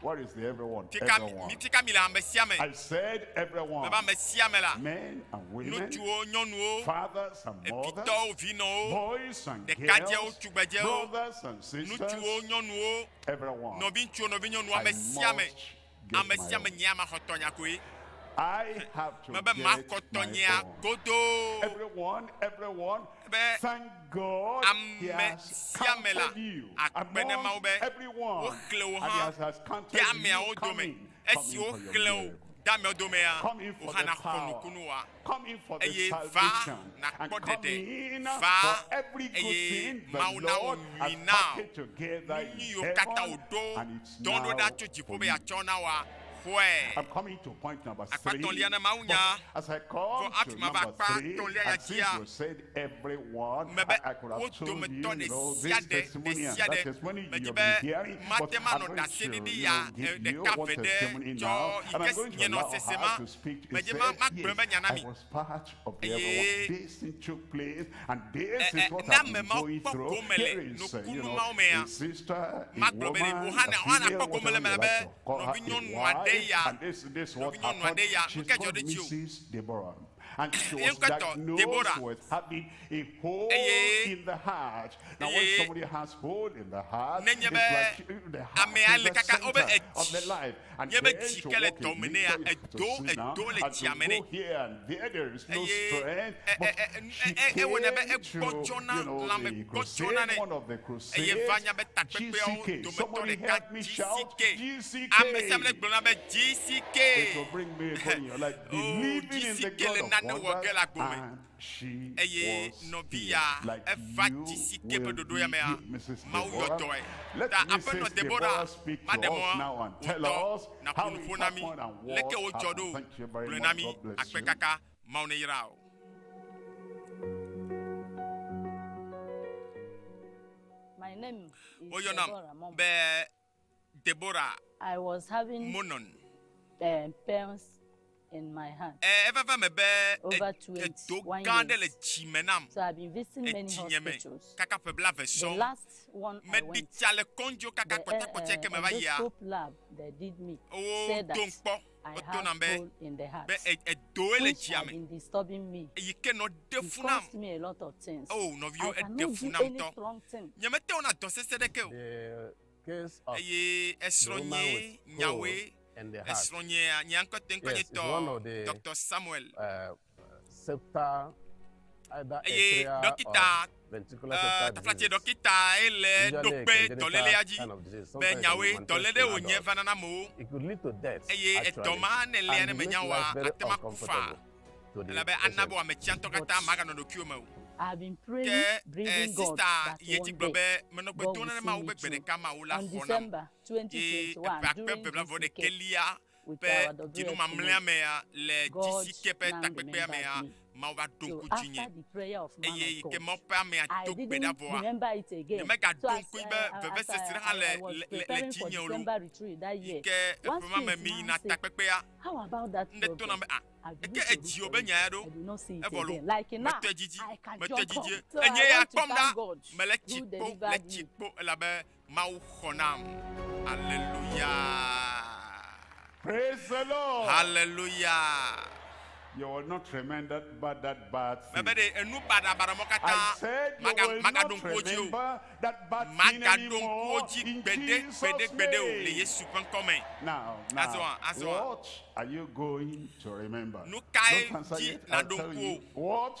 Where is the everyone? Fi ka mi- mi- fi ka mile ame sia ame? I said Meva everyone, ame sia ame la, men and women, ŋutsuwo, nyɔnuwo, fathers and mothers, evitɔwo, vinɔwo, boys and ɖekadzɛwo, girls, tugbedzɛwo, brothers and sisters, ŋutsuwo, nyɔnuwo, everyone. nɔviŋutsuwo, nɔvinyɔnuwo, I ame sia ame. must Ame sia ame nyea maxɔ tɔnya koe. Mebe maxɔ tɔnyea godoo. Be ame sia ame la akpe ɖe Mawu be woxlẽ wò hã de ameawo dome. Esi woxlẽ wò de ameawo domea, wò hã nàxɔ nukunu wòa. eye va nàkpɔ ɖeɖe, va, eye Mawu nawɔ nyui na wò, nu nyuiwo katã wòɖo dɔ̃ ɖo ɖa tso dziƒo be yeatsɔ na wòa, xɔe. Akpa etɔ̃lia na mawunya, vɔ hafi mava akpa etɔ̃lia ya dzia, mebe wo dometɔ ɖe sia ɖe, ɖe sia ɖe, medi be mate manɔ ɖaseɖiɖi ya ɖeka ʋɛ ɖe, tsɔ yi ke nye nɔsese ma. Medze be magblɔ be nya na mi, eye ne ame mawo kpɔ gome le nukunu mawo mea, magblɔ be ɖe wò hã nèa, wohã nàkpɔ gome le eme la be nɔvinyɔnu aɖe ya, nɔvinyɔnu aɖe ya, nu kae dzɔ ɖe dziwò? Ye ŋkɔtɔ Debora, eye Eye nenye be amea le kaka wobe edzi, nye be dzi ke le dɔ me nea, edo edo le dzia me nɛ. Eye ewɔna be egbɔdzɔna lãme gbɔdzɔna nɛ. Eye va nya be takpekpeawo dometɔ ɖeka GCK. Ame sia ame ɖe gblɔna be GCK. O GCK le nane wɔ ge le agbo me. Eye nɔviya eva dzi si ke me ɖoɖo ya mea, Mawu yɔ dɔe. Ta Aƒenɔ Deborah, maɖe mɔ wò ŋutɔ nàƒo nu ƒo na mí leke wodzɔ ɖo. Gblɔe na mí akpe kaka. Mawu neyra wò. Woyɔnam be. Deborah Monon. Ẽ, eveva eme be edo gã aɖe le dzi me nam, le dzinye me kaka ƒe blaeve sɔŋ. Meɖi tsa le kɔndzo kaka kpɔtɛkpɔtɛ ke meva yia. Woɖom kpɔ. Wodo nam be, be edoe le dzia me. Eyi ke nɔ ɖe fu nam. Oh, nɔviwo, eɖe fu nam tɔ. Nyemete ŋu na dɔ sese ɖeke o. Eye esrɔ̃ nye nyawoe. Esrɔ̃ nye, nye ŋkɔteŋkɔnyetɔ, Doctor Samuel uh, eye ɖɔkita taflatse ɖɔkita ye le ɖo kpe dɔlélea dzi be nyawoe dɔléle wònye va nana amewo eye edɔ ma ne lea ne menya wa ate ma ku fa elabe ana be wòame tsiatɔ katã maganɔ ɖokuiwo me o ke eh, sista ye dzi gblɔ be menɔ gbe dom ne mawo be gbe ɖeka mawo la xɔ nam ye eƒe akpe bebla vɔ ɖekelia ƒe dzinu mamlɛa mea le dzi ke ƒe takpekpea mea, Mawu va ɖo ŋku dzinye. Eye yi ke Mawu ƒe amea do gbe ɖa vɔa, nyemegado ŋkui be vevesese hã le le dzinye o loo. Yi ke eƒe ma me meyina takpekpea, ŋɖe tona be a eke edzi wò be nya ya ɖo evɔ loo. Metɔe didi, metɔe didie. Enye ya kpɔm ɖa, mele tsi kpo, le tsi kpo elabe Mawu xɔ nam. Aleluya. Praise the Lord. Aleluya. You will not remember that bad thing. Mebe ɖe enu baɖabaɖa mɔ katã maga magaɖo ŋkuwo dzi o. Magaɖo ŋkuwo dzi gbeɖe gbeɖe gbeɖe o le Yesu ƒe ŋkɔ me. Azɔ azɔ. What are you going to remember? Nu kae dzi naɖo ŋkuwo? What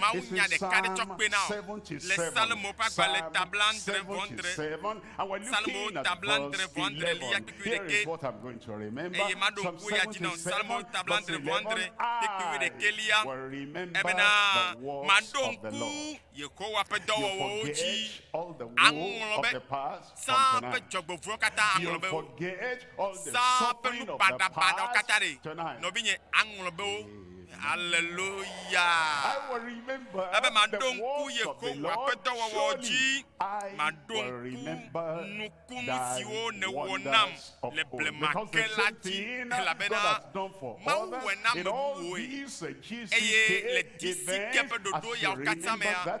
Mawunya ɖeka ɖe tsɔ kpena o. Le Psalmo ƒe agbalẽ ta blaadre vɔ adre, Psalmowo ta blaadre vɔ adre liya kpikpui ɖekɛ, eye maɖo ŋku eya dzi nɔ Psalmowo ta blaadre vɔ adre kpikpui ɖekɛ liya, ebena, Maɖo ŋku Yehowa ƒe dɔwɔwɔwo dzi aŋlɔ be. Saa ƒe dzɔgbevɔ̃ewo katã aŋlɔ be wo. Saa ƒe nu baɖabaɖawo katã ɖe, nɔvinye, aŋlɔ be wo. Haleluya! Ebe maɖo ŋku Yehowa ƒe dɔwɔwɔwo dzi, maɖo ŋku nukunu siwo nèwɔ nam le blema ke la dzi, elabena Mawu wɔe na ame bubuwoe, eye le disi ke ƒe ɖoɖo yawo katã mea,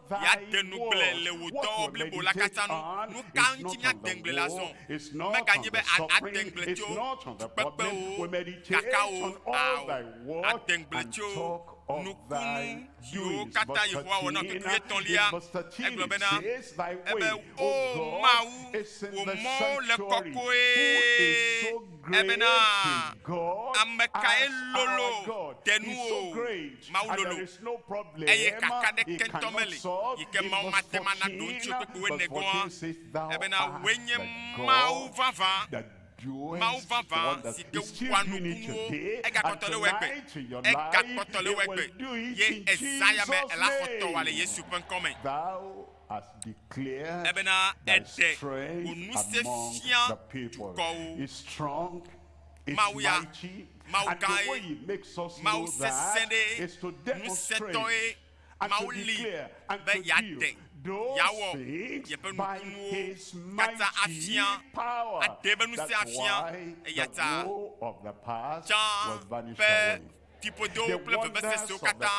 yeade nu gblẽ le wò dɔwɔwɔ blibo la katã nu. Nu ka ŋuti míade ŋugble le azɔ? Meganye be àde ŋugble tso fukpekpewo, kakawo o. Àde ŋugble tso nukunu siwo katã Yehowa wɔ na wò tutu etɔ̃lia. Egblɔ bena, Ebe, O Mawu, wò mɔwo le kɔkɔe. Ebena, Ame kae lolo te nuwò? Mawu lolo, eye kaka ɖeke ŋutɔ meli yi ke Mawu mate ŋu ana ɖo ŋuti o kple kpukpuiwo ene gɔ̃ hã, elabena wòe nye Mawu vavã, Mawu vavã si ke wɔa nukunuwo. Egakpɔtɔ le wo egbe, egakpɔtɔ le wo egbe, ye ezã ya me ela xɔtɔ wɔa le Yesu ƒe ŋkɔ me, elabena èɖe wò ŋusẽ fia dukɔwo. Mawu ya, Mawu gãe, Mawu sesẽɖe, ŋusẽtɔe, Mawu li be yeate, yeawɔ yeƒe nukunuwo katã afia, aɖee be ŋusẽ afia. Eyata tsã ƒe fiƒodowo kple vevesesewo katã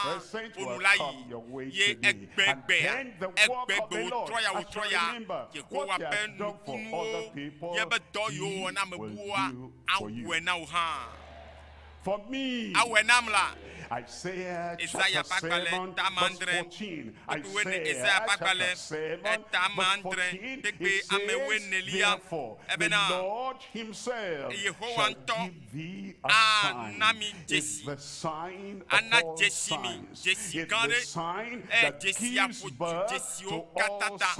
ƒo nu la yi, ye egbegbea egbegbewo trɔyawo trɔya Yehowa ƒe nukunuwo, ye be dɔ yiwo wòwɔ na ame bubuwoa, awɔe na wò hã. Awɔe nam la, Esaya ƒe agbalẽ tameadre kpekpewoe neli, Esaya ƒe agbalẽ tameadre kpekpeamewoe nelia, ebena Yehowa ŋutɔ, ana mi dzesi, ana dzesi mi, dzesi gã ɖe, eye dzesia ƒo du dzesiwo katã ta,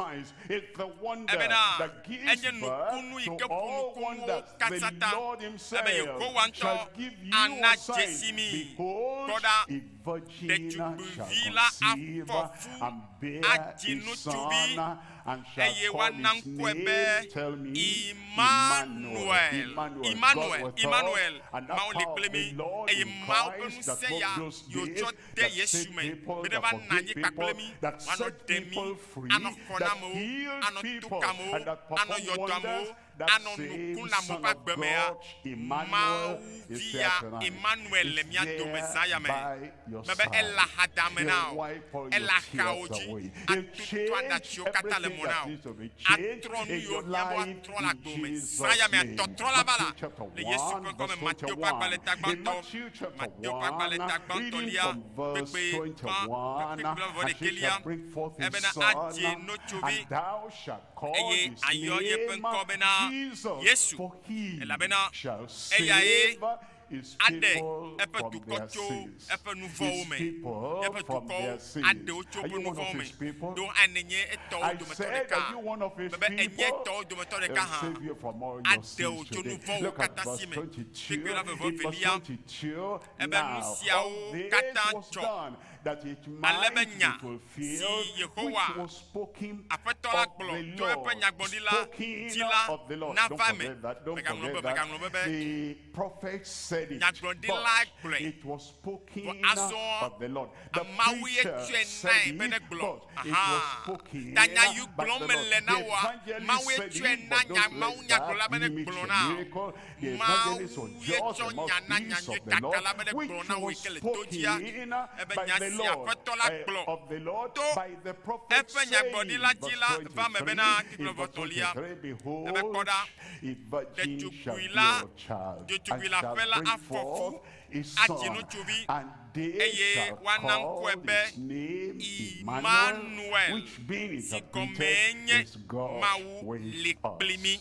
ebena enye nukunu yi ke ƒo nukunuwo katã ta, ebe Yehowa ŋutɔ ana dzesi mi. Kpɔ ɖa, ɖetugbivi la afɔ fu adzi ŋutsuvi. eye woana ŋkɔe be Imanuel, Imanuel, Imanuel, Mawu li kple mí. Eye Mawu ƒe ŋusẽ ya yi wòtsɔ de Yesu me be ne va na anyi kpakple mí, wòanɔ ɖem mí, anɔ xɔxɔ na amewo, anɔ to ka amewo, anɔ yɔ dɔ amewo, anɔ nu kum na amewo ƒe agbe mea, Mawu Via Imanuel le mía dome zã ya me. Mebe ele axadame na wò, ele axawo dzi, atutu aɖatsiwo katã le mɔ na wò, atrɔ nu yiwo hiã be woatrɔ le agbe me zã ya mea, tɔtrɔla va la, le Yesu ƒe ŋkɔ me. Mateo ƒe agbalẽ ta gbãtɔ, Mateo ƒe agbalẽ ta gbãtɔlia, kpekpe ƒã ƒe kpekpe blaeve-vɔ-ɖekɛlia, ebena adze notsovi. eye ayɔ yeƒe ŋkɔ bena Yesu, elabena eyae aɖe eƒe dukɔ tso eƒe nuvɔ̃wo me, yeƒe dukɔwo aɖe wo tso woƒe nuvɔ̃wo me. Ɖo ane nye etɔwo dometɔ ɖeka, bebe enye etɔwo dometɔ ɖeka hã, aɖe wò tso nuvɔ̃wò katã si me. Kpekpe la veve velia, ebe nusiawo katã dzɔ ale be nya si Yehowa, Aƒetɔ la gblɔ tso eƒe nyagblɔɖila dzi la nava eme. Mègaŋlɔ be, mègaŋlɔ be be nyagblɔɖilae gblɔe, vɔ azɔ Mawu ye tsɔe nae be negblɔ. Aha, ta nya yiwo gblɔm mele na wòa, Mawue tsɔe na nya, mawunyagblɔla be negblɔ na wò. Mawu ye tsɔ nya na nyanyuitaka la be negblɔ na wòe ke le to dzia? Ebe nya si Aƒetɔ la gblɔ to eƒe nyagblɔɖila dzi la va eme bena, Xexlẽ vɔtɔlia, ebe kpɔ ɖa, ɖetugbui la, ɖetugbui le aƒe la afɔ fu, adzi ŋutsuvi, eye woana ŋkɔe be Imanuel, si gɔmee nye Mawu li kpli mí.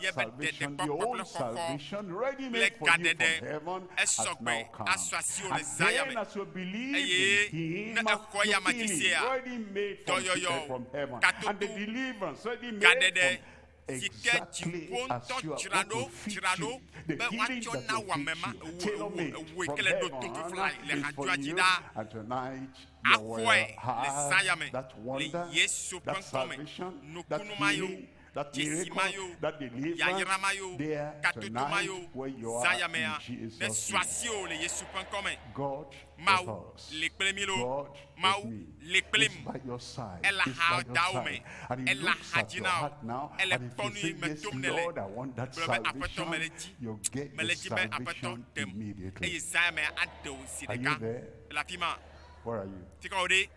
ye be ɖeɖekpɔkpɔ kple xɔxɔ kple gaɖeɖe esɔ gbe asɔ asiwò le Zaya me, eye ne èxɔ eyama dzi sea, dɔyɔyɔ, katoto, gaɖeɖe si ke dziƒo ŋutɔ dzra ɖo dzra ɖo be woatsɔ na wò ame ma, ewɔ, ewɔ, ewɔe ke le ɖoto ƒiflae le hadzɔa dzi ɖaa. Axɔe le Zaya me le Yesu ƒe ŋkɔ me. Nukunu ma ye o. Dzesi ma yo, yayra ma yo, gadodo ma yo, zãyamea, nesu asiwò le Yesu ƒe ŋkɔ me. Mawu li kple mí loo. Mawu li kplim. Ele axaa dawò me. Ele axa dzi na wò. Ele kpɔ nuyi me tom nèle. Gblɔ be, Aƒetɔ, mele edzi. Mele edzi be Aƒetɔ ɖem. Eye zãyamea aɖe wò zi ɖeka. Ele afima? Fika wòɖe?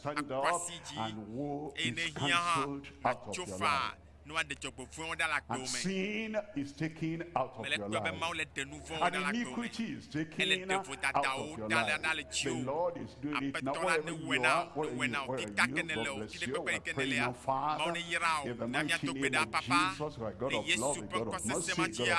akpa si dzi eye nèhiã hã natso faa ne woaɖe dzɔgbevɔ̃e wo ɖa le agbe wo me. Mele ekpɔe be Mawu le ɖe nuvɔ̃wo ɖa le agbe wo me. Ele ɖe vodadawo ɖa le ɖa le dziwò. Aƒetɔ la newɔe na wò, newɔe na wò. Kita ke nèle o, ti ɖe kpekpe yi ke nèlea, Mawu neyra wò. Na míado gbe ɖa, Papa, le Yesu ƒe ŋkɔ sesẽ ma dzia.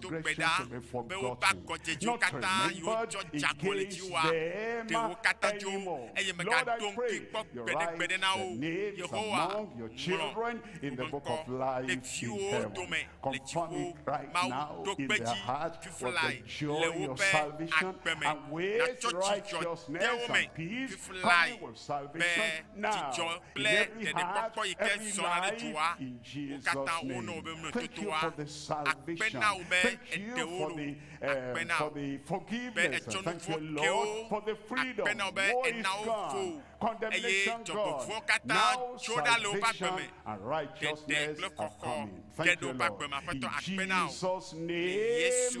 do gbe ɖa be woƒe agɔdzedzo katã yi wotsɔ dza kɔ le dziwòa, ɖe wo katã dzo, eye mègaɖo ŋkui kpɔ gbeɖegbeɖe na wo o. Yehowa, ŋlɔ woƒe ŋkɔ ɖe viwòwo dome le dziƒo. Mawu, ɖo kpe edzi, fiflae le woƒe agbe me. Nàtsɔ dzidzɔ de wo me fiflae be dzidzɔ kple ɖeɖekpɔkpɔ yi ke zɔna ɖe dzoa. Wo katã wo nɔ wò be mlɔ totoa akpe na wò be èɖe wo ɖo, akpe na wò be ètsɔ nu vɔ̃ ke wo, akpe na wò be èna wo fo wò, eye dzɔgbevɔ̃ katã tso ɖa le woƒe agbe me, ɖeɖe kple xɔxɔ ge ɖe woƒe agbe me. Aƒetɔ akpe na wò le Yesu.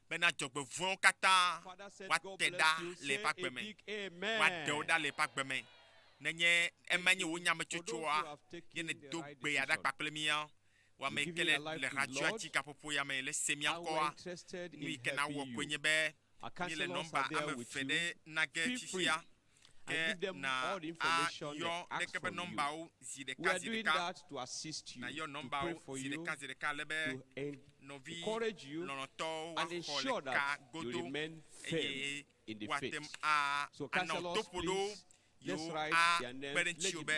bena dzɔgbevɔ̃ewo katã woate ɖa le eƒe agbe me, woaɖe wo ɖa le eƒe agbe me. Nenye emae nye wò nyametsotsoa, ne nèdo gbe ya ɖa kpakple mía, wò ame yi ke le le xatsoati gaƒoƒo ya me le se mía ŋkɔa, nu yi ke nàwɔ koe nye be míele nɔmba ame eve ɖe na ge fifia. Ke na ayɔ ɖeke ƒe nɔmbawo zi ɖeka zi ɖeka, nayɔ nɔmbawo zi ɖeka zi ɖeka ale be nɔvi lɔlɔ̃tɔwo woaxɔ le kaa godo eye woate ŋu anɔ to ƒo ɖo yewo akpe ɖe ŋutiwò be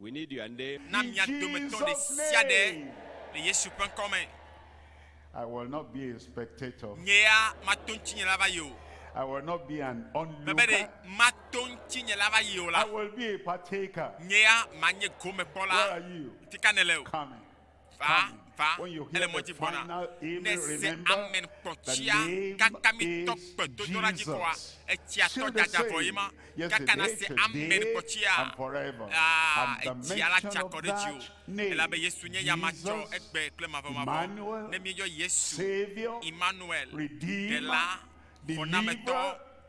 Na mia dometɔ ɖe sia ɖe le Yesu ƒe ŋkɔ me. Nye ya mato ŋutinyela va yi o. Mebe ɖe mato ŋutinyela va yi o la, nye ya manye gomekpɔla. Ŋuti ka nèle o? va va ele mɔ dzi gbɔna ne se amen kpɔtsia kaka mi tɔ kpɛ to tɔ la dzi kɔa etsia tɔ dada vɔ ye ma kaka na se amen kpɔtsia aa etsia la tsa kɔ ɖe dzi o elabe yesu nye ya ma tsɔ egbe kple ma vɔ ma vɔ ne mi yɔ yesu emmanuel ɖela xɔnametɔ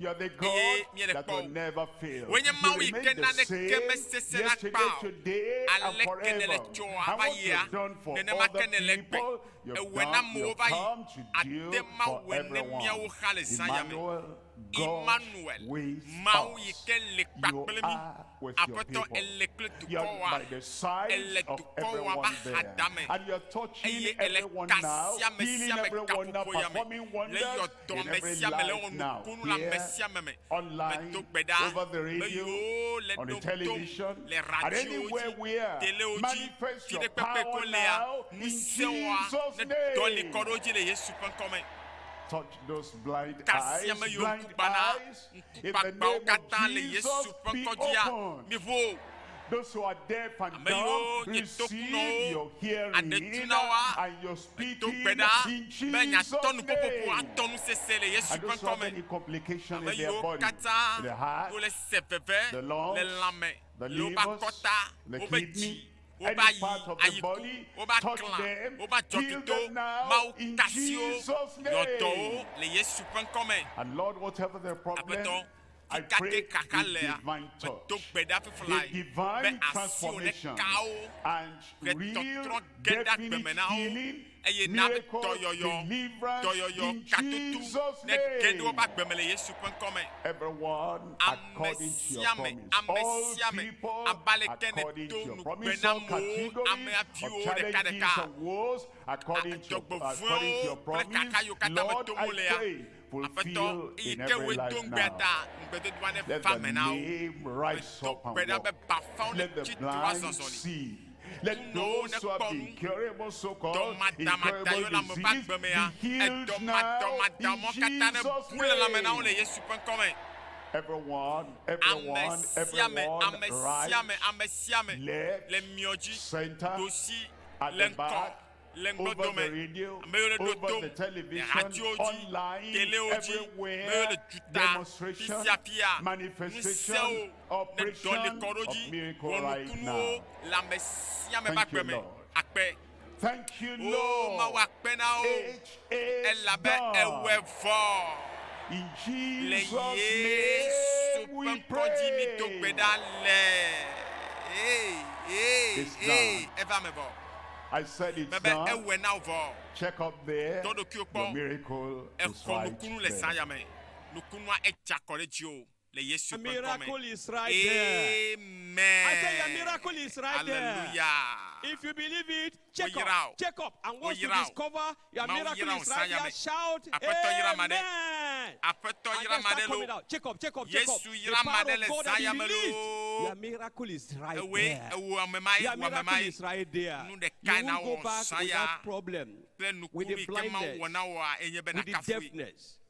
eye míeɖekpɔ o. Wòe nye Mawu yi ke naneke mesesẽna kpã o. Aleke nèle tsɔa va yia, nenema ke nèle gbe. Èwɔe na amewo va yi, àde Mawue ne míawo xa le Zion me. Imanuel, Mawu yi ke li kpa kple mí. Aƒetɔ, èli kple dukɔwoa? Èle dukɔwoa ƒe axadame, eye èle ka sia me sia me gaƒoƒoya me le yɔ Dɔ me sia me le wɔ nukunu le ame sia ame me. Medo gbe ɖa be yewo le ɖom tom le radiowo dzi, telewo dzi, fiɖekpekpe kɔlea, ŋusẽwoa, ne dɔ li kɔ ɖe wo dzi le Yesu ƒe ŋkɔ me. Kasi ame yiwo ŋku gbãna Ŋkugbagbãwo katã le Yesu ƒe ŋkɔdzia, miʋu wo. Ame yiwo nye tokunɔwo aɖe tu na woa, medo gbe ɖa be nyatɔ nuƒoƒoƒo atɔ nu sesẽ le Yesu ƒe ŋkɔ me. Ame yiwo katã wole se veve le lãme, le woƒe akɔta, woƒe dzi, wova yi ayi ku, wova klã, wova dzɔ kito, Mawu tasiwo, yɔdɔwo le Yesu ƒe ŋkɔ me. Aƒetɔ, tikake xaxa lea, medo gbe ɖa fiflae be asiwò neka wo, ʋetɔtrɔ ge ɖe agbe me na wo. eye na dɔyɔyɔ, dɔyɔyɔ katutu nege ɖe woƒe agbe me le Yesu ƒe ŋkɔ me. Ame sia ame, ame sia ame, abe aleke nèdo ŋugbe na wò amea viwo ɖekaɖeka, dzɔgbevɔ̃ewo kple xaxa yiwo katã me tom wolea, Aƒetɔ, eyi ke wòe do ŋugbea ta, ŋugbedodoa neva eme na wo. Medo gbe ɖa be bafawo netsi tre woa zɔzɔli, kunɔwo nekpɔ nu, dɔmadamadayolamɔ̃ ƒe agbemea, edɔmadɔmadamɔ̃ katã nebu le lãme na wo le Yesu ƒe ŋkɔ me. Amesiame, amesiame, amesiame le miɔ dzi, ɖosi le ŋkɔ. le ŋdɔdɔ me, ame yiwo le ɖo tom le hatiwo dzi, telewo dzi, ame yiwo le duta fisiafia, ŋusẽwo le ɖɔli kɔ ɖe wo dzi, wɔnukunuwo le ame sia ame ƒe agbe me. Akpe. O Mawu, akpe na wo. elabe ewɔe vɔ le Yesu ƒe ŋkɔ dzi mido gbe ɖa le ee ee ee eva eme vɔ mebe ewɔe na wò vɔ tɔ ɖokuiwò kpɔ exɔ nukunu le saya me nukunua edze akɔ ɖe dziwò. le Yesu ƒe ŋkɔ me. Amen. Aleluya. Woyra wò. Woyra wò. Mawu yra wò zã ya me. Aƒetɔ yra ame aɖe. Aƒetɔ yra ame aɖe loo. Yesu yra ame aɖe le zã ya me loo. Ewòe, ewò ame mae, wò ame mae. Nu ɖekae nawɔ zã ya kple nukunu yi ke Mawu wɔ na wòa enye be nàkafui.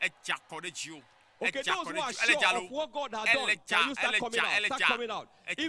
Edze akɔ ɖe dziwò. Edze akɔ ɖe dziwò. Ele dza loo. Ele dza, ele dza, ele dza.